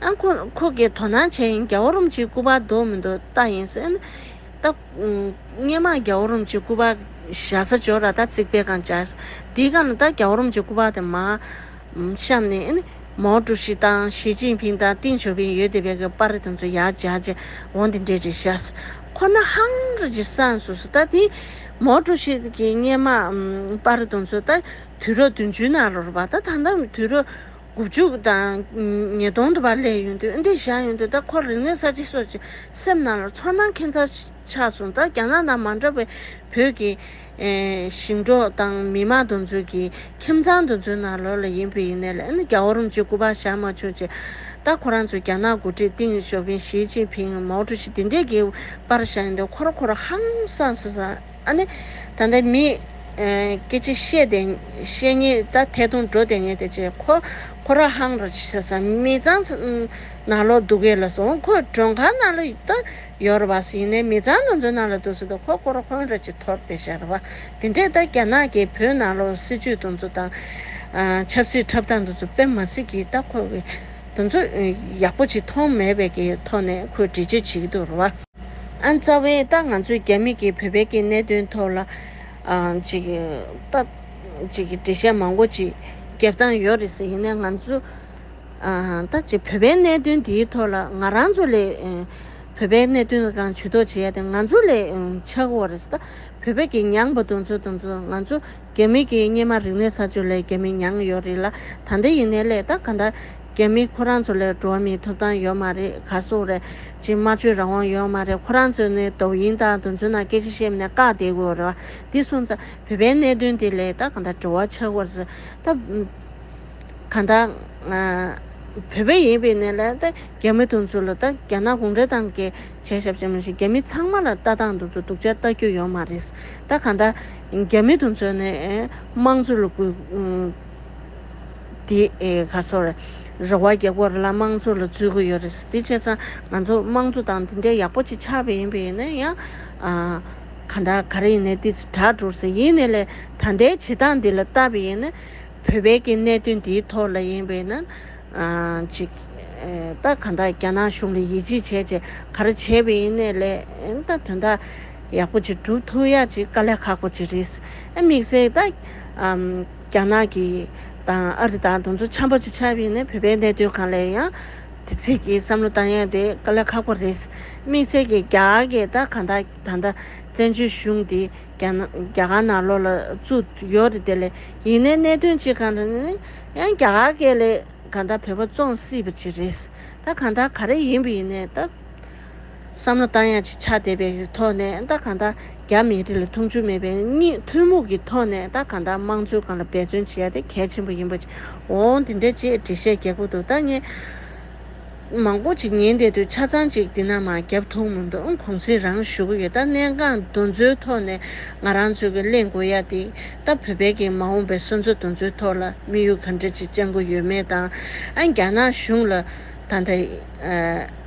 ཨ་ཁོ་ཁོ་གེ་དོ་སྣང་བྱས་ཡིན་རྒྱ་བོ་རོམ་གྱི་སྐུ་པར་འདོག་མི་འདོག་བལྟ་ཡིན་ཟེར་ན། ད། སྔན་མ་རྒྱ་བོ་རོམ་གྱི་སྐུ་པར་བཞག་ས་འཇོག་ར་ད་རྩིག་པའི་སྒང་བཅར། དེའི་སྒང་ལ་ད་རྒྱ་བོ་རོམ་གྱི་སྐུ་པར་དེ་མ། བཤམས་ནས། མའོ་ཀྲུའུ་ཞི་དང་ཞི་ཅིན་ཕིང་དང་ཏིང་ཞོ་ཕིང་ཡོད་དེ་བས་ཀྱི་པར་རེ་དེ་ཚོ་ཡར་བརྒྱག་རྗེས་འོང་དེ་འདྲས་རེ་བཞག་ས་ཁོ་ན་ཧང་རེ་གྱི་ས་སུ་སུ་ད་དེ། མའོ་ཀྲུའུ་ཞི་གི་སྔན་མ། པར་རེ་དེ་ཚོ་ད་དུས་རབས་བདུན་ཅུའི་ནང་ལོར་བ་ད་ད་ལྟ་དུས་རབས། དགུ་བཅུ་དང་ཉིས་སྟོང་དུ་བར་སླེབས་ཡོང་དུས་འདི་བཞག་ཡོང་དུས་ད་ཁོར་རིག་གནས་གསར་བརྗེ་སོགས་ཀྱི་སེམས་ནང་ལ་ཚོར་སྣང་ཁྱད་མཚར་ཆགས་སོང་ད་རྒྱ་ནག་ནང་མ་འདྲ་བའི་བོད་ཀྱི་ཞིང་འབྲོག་དང་མི་མང་དུ་འཛུལ་གྱིས་ཁྱིམ་ཚང་དུ་འཛུལ་ནང་ལོགས་ལ་ཡིན་བུ་ཡིན་ནས་ལ་ཨ་ནི་རྒྱ་བོར་རུང་གཅིག་སྐུ་པར་བཞག་མ་བྱུང་ཅི་ད་ཁོ་རང་ཚོས་རྒྱ་ནག་འགོ་ཁྲིད་ཏིང་ཞོ་ཕིན་ཞིས་ཅིན་ཕིན་མའོ་ཀྲུའུ་ཞི་འདི་འདྲས་ཀྱི་པར་བཞག་ཡོང་དུས་ཁོ་ར་ཁོ་ར་ཧང་སངས་སོང་ཟ། ཨ་ནི། ད་ལྟ་མི། སྐྱེ་འཆི་ཤེས་ཏེ། ཤེས་ཉིད་ད་ཐལ་དུང་འགྲོ་དེ་ངེས་ཏེ་ཅེས་ཁོ། ཁོ་ར་ཧང་ར་ཅི་ས་ས་མི་ཚང། ན་ལོ་སྡུག་གེ་ལ་སོང་ཁོ་མགྲོན་ཁང་ན་ལོ་ད་ཡོ་ར་བ་སི་ཡིན་ནའི་མི་ཚང་ན་ཚོ་ན་ལོ་སྡུག་སི་ད་ཁོ་ཁོ་ར་ཧོན་ར་ཅི་ཐོར་དེ་ཤ་ར་བ་དེ་འདྲས་ད་རྒྱ་ནག་གི་བོད་ན་ལོ་སི་ཇུས་ཏུང་ཚོ་དང། ཆབ་སི་འཁྲབ་སྟངས་ཏུང་ཚོ་དཔེ་མ་སི་གི་ད་ཁོ་གི། ཏུང་ཚོ་ཡག་པོ་ཅི་མཐོང་མེད་པའི་གི་ཐོག་ནས་ཁོས་འདྲི་བྱེད་བྱེད་གི་འདུག་ར་བ། ཨ་མཚར་བས་ད་ང་ཚོས་རྒྱ་མི་གིས་བོད་པའི་གི་གནད་དོན་ཐོག་ལ། ཅིག། སྟབས། ཅིག་འགྲེལ་བཤད་མང་པོ་ཅིག་རྒྱབ་སྟངས་ཡོད་རེད་ཟེར་ཡིན་ནའི་ང་ཚོ། ད་ཅིག་བོད་པའི་གནད་དོན་དེའི་ཐོག་ལ་ང་རང་ཚོ་ལས། བོད་པའི་གནད་དོན་ལ་གང་ཇུས་གཏོགས་བྱེད་ཡ་དེ་ང་ཚོ་ལས་ཆགས་འོ་རེད་ད། བོད་པའི་གི་མྱངས་པ་དུང་ཚོ་དུང་ཚོ་ང་ཚོ་རྒྱ་མི་གི་སྙེ་མ་རིག་གནས་ས་ཆོ་ལས་རྒྱ་མི་མྱངས་ཡོད་རེད་ལ་ད་ད་ཡིན་ནའི་ལས་ད་ག་ད། རྒྱ་མི་ཁོ་རང་ཚོ་ལས་འགྲོ་མིའི་ཐོབ་ཐང་ཡོད་མ་རེད་གར་སོང་རེད། ཅིག་དམར་གཅོད་རང་དབང་ཡོད་མ་རེད་ཁོ་རང་ཚོས་ནི་དོ་བོ་ཡིན་དང་དོན་ཚུལ་ནང་སྐད་ཆ་བཤད་མིན་ནས་བཀག་བསྡད་དགོས་རེད་བ་འདི་སོང་ཙང་བོད་པའི་གནད་དོན་དེ་ལས་ཀ་གང་དག་དྲི་བ་ཆགས་བར་ཟེར་ད། གང་ལྟར། བོད་པ་ཡིན་པའི་གནས་ལས་ད་རྒྱ་མི་དོན་ཚུལ་ལ་ད་རྒྱ་ནག་གུང་ཁྲན་ཏང་གི་བྱས་ཞབས་ཅན་མ་ཞིག་རྒྱ་མི་ཚང་མ་ལ་ལྟ་སྟངས་དོན་ཚུལ་སྡུག་ཅག་ལྟ་རྒྱུ་ཡོད་མ་རེད། ད་གང་ལྟར། རྒྱ་མི་དོན་ཚུལ་ནི་དམངས་གཙོ་ལ་གུས། འདི་ག་སོ། རེ་བ་རྒྱག་པོ་རེ་ལ་དམངས་གཙོ་ལ་རྫུས་གི་ཡོད་རེད་ཟེར་དེ་བྱས་ཙང་ང་ཚོ་དམངས་གཙོ་དང་འདི་འདྲའི་ཡག་པོ་ཅིག་ཆགས་པ་ཡིན་པས་ཡིན་ན་ཡང། གང་དག་ག་རེ་ཡིན་ནའི་འདི་དྲག་འགྲོ་ཟེར་ཡིན་ནའི་ལས་ད་ལྟའི་བྱེད་སྟངས་འདི་ལ་ལྟ་བས་ཡིན་ན། བོད་པའི་གི་གནད་དོན་འདིའི་ཐོག་ལ་ཡིན་པས་ན། ཅིག། ད་གང་དག་རྒྱ་ནག་གཞུང་ལ་ཡིད་ཆེས་བྱས་བྱས་ག་རེ་བྱས་པས་ཡིན་ནའི་ལས་ད་དོན་དག་ཡག་པོ་ཅིག་བསྒྲུབ་ཐུབ་ཡ་ཅིག་དཀའ་ལས་ཁག་པོ་ཅིག་རེད། དམིགས་བསལ་ད། རྒྱ་ནག་གིས་དང་ཨ་རི་དང་དུམ་ཚོད་འཆམ་པོ་ཅིག་ཆགས་པས་ནི་བོད་པའི་གནད་དོན་གང་ལས་ཡང་དེ་ཚིག་གི་བསམ་བློ་བཏང་ཡས་དེ་དཀའ་ལས་ཁག་པོ་རེད། དམིགས་བསལ་གྱི་རྒྱ་གར་གྱི་ད་གང་དག་ད་ལྟ་བཙན་བྱོལ་གཞུང་དེ་རྒྱ་རྒྱ་གར་ནང་ལོགས་ལ་བཙུགས་ཡོད་རེད་དེ་ལས་ཡིན་ནའི་གནད་དོན་ཅིག་གང་རེད་ནའི་ཡང་རྒྱ་གར་གྱི་ལས་གང་དག་བོད་པ་བཙོང་སྲིད་པ་ཅིག་རེད། ད་གང་དག་ག་རེ་ཡིན་པ་ཡིན་ནའི་ད། བསམ་བློ་བཏང་ཡང་ཅི་ཆགས་དད་པའི་ཐོག་ནས་ད་གང་ལྟར་རྒྱ་མི་རིགས་ལ་མཐོང་ཆུང་མེད་པའི་གཉིས་ཐུན་མོང་གི་ཐོག་ནས་ད་གང་ལྟར་དམངས་གཙོའི་སྒང་ལ་འབད་བརྩོན་བྱེད་ཡ་དེ་གལ་ཆེན་པོ་ཡིན་པ་ཅིག་འོང་དེ་འདྲའི་ཅེས་འགྲེལ་བཤད་རྒྱག་གི་འདུག་ད་ངས་མང་པོ་ཅིག་ཉན་བསྡད་དུས་ཆ་ཚང་ཅིག་འདི་ན་མ་བརྒྱབ་ཐུག་མི་འདུག་གོང་ཚེས་རང་བཞུགས་ཀྱི་ཡོད་ད་གནས་འགངས་འདུ་འཛོའི་ཐོག་ནས་ང་རང་ཚོས་ཀྱི་གླེང་དགོས་ཡ་དེ་ད་བོད་པའི་གིས་མ་འོངས་པའི་སོན་རྩ་འདུ་འཛོའི་ཐོག་ལ་དམིགས་ཡུལ་ག་འདྲ་ཅིག་བཅང་གི་ཡོད་མེད་དང། རྒྱ་ནག་གཞུང་ལ་ད་ལྟ།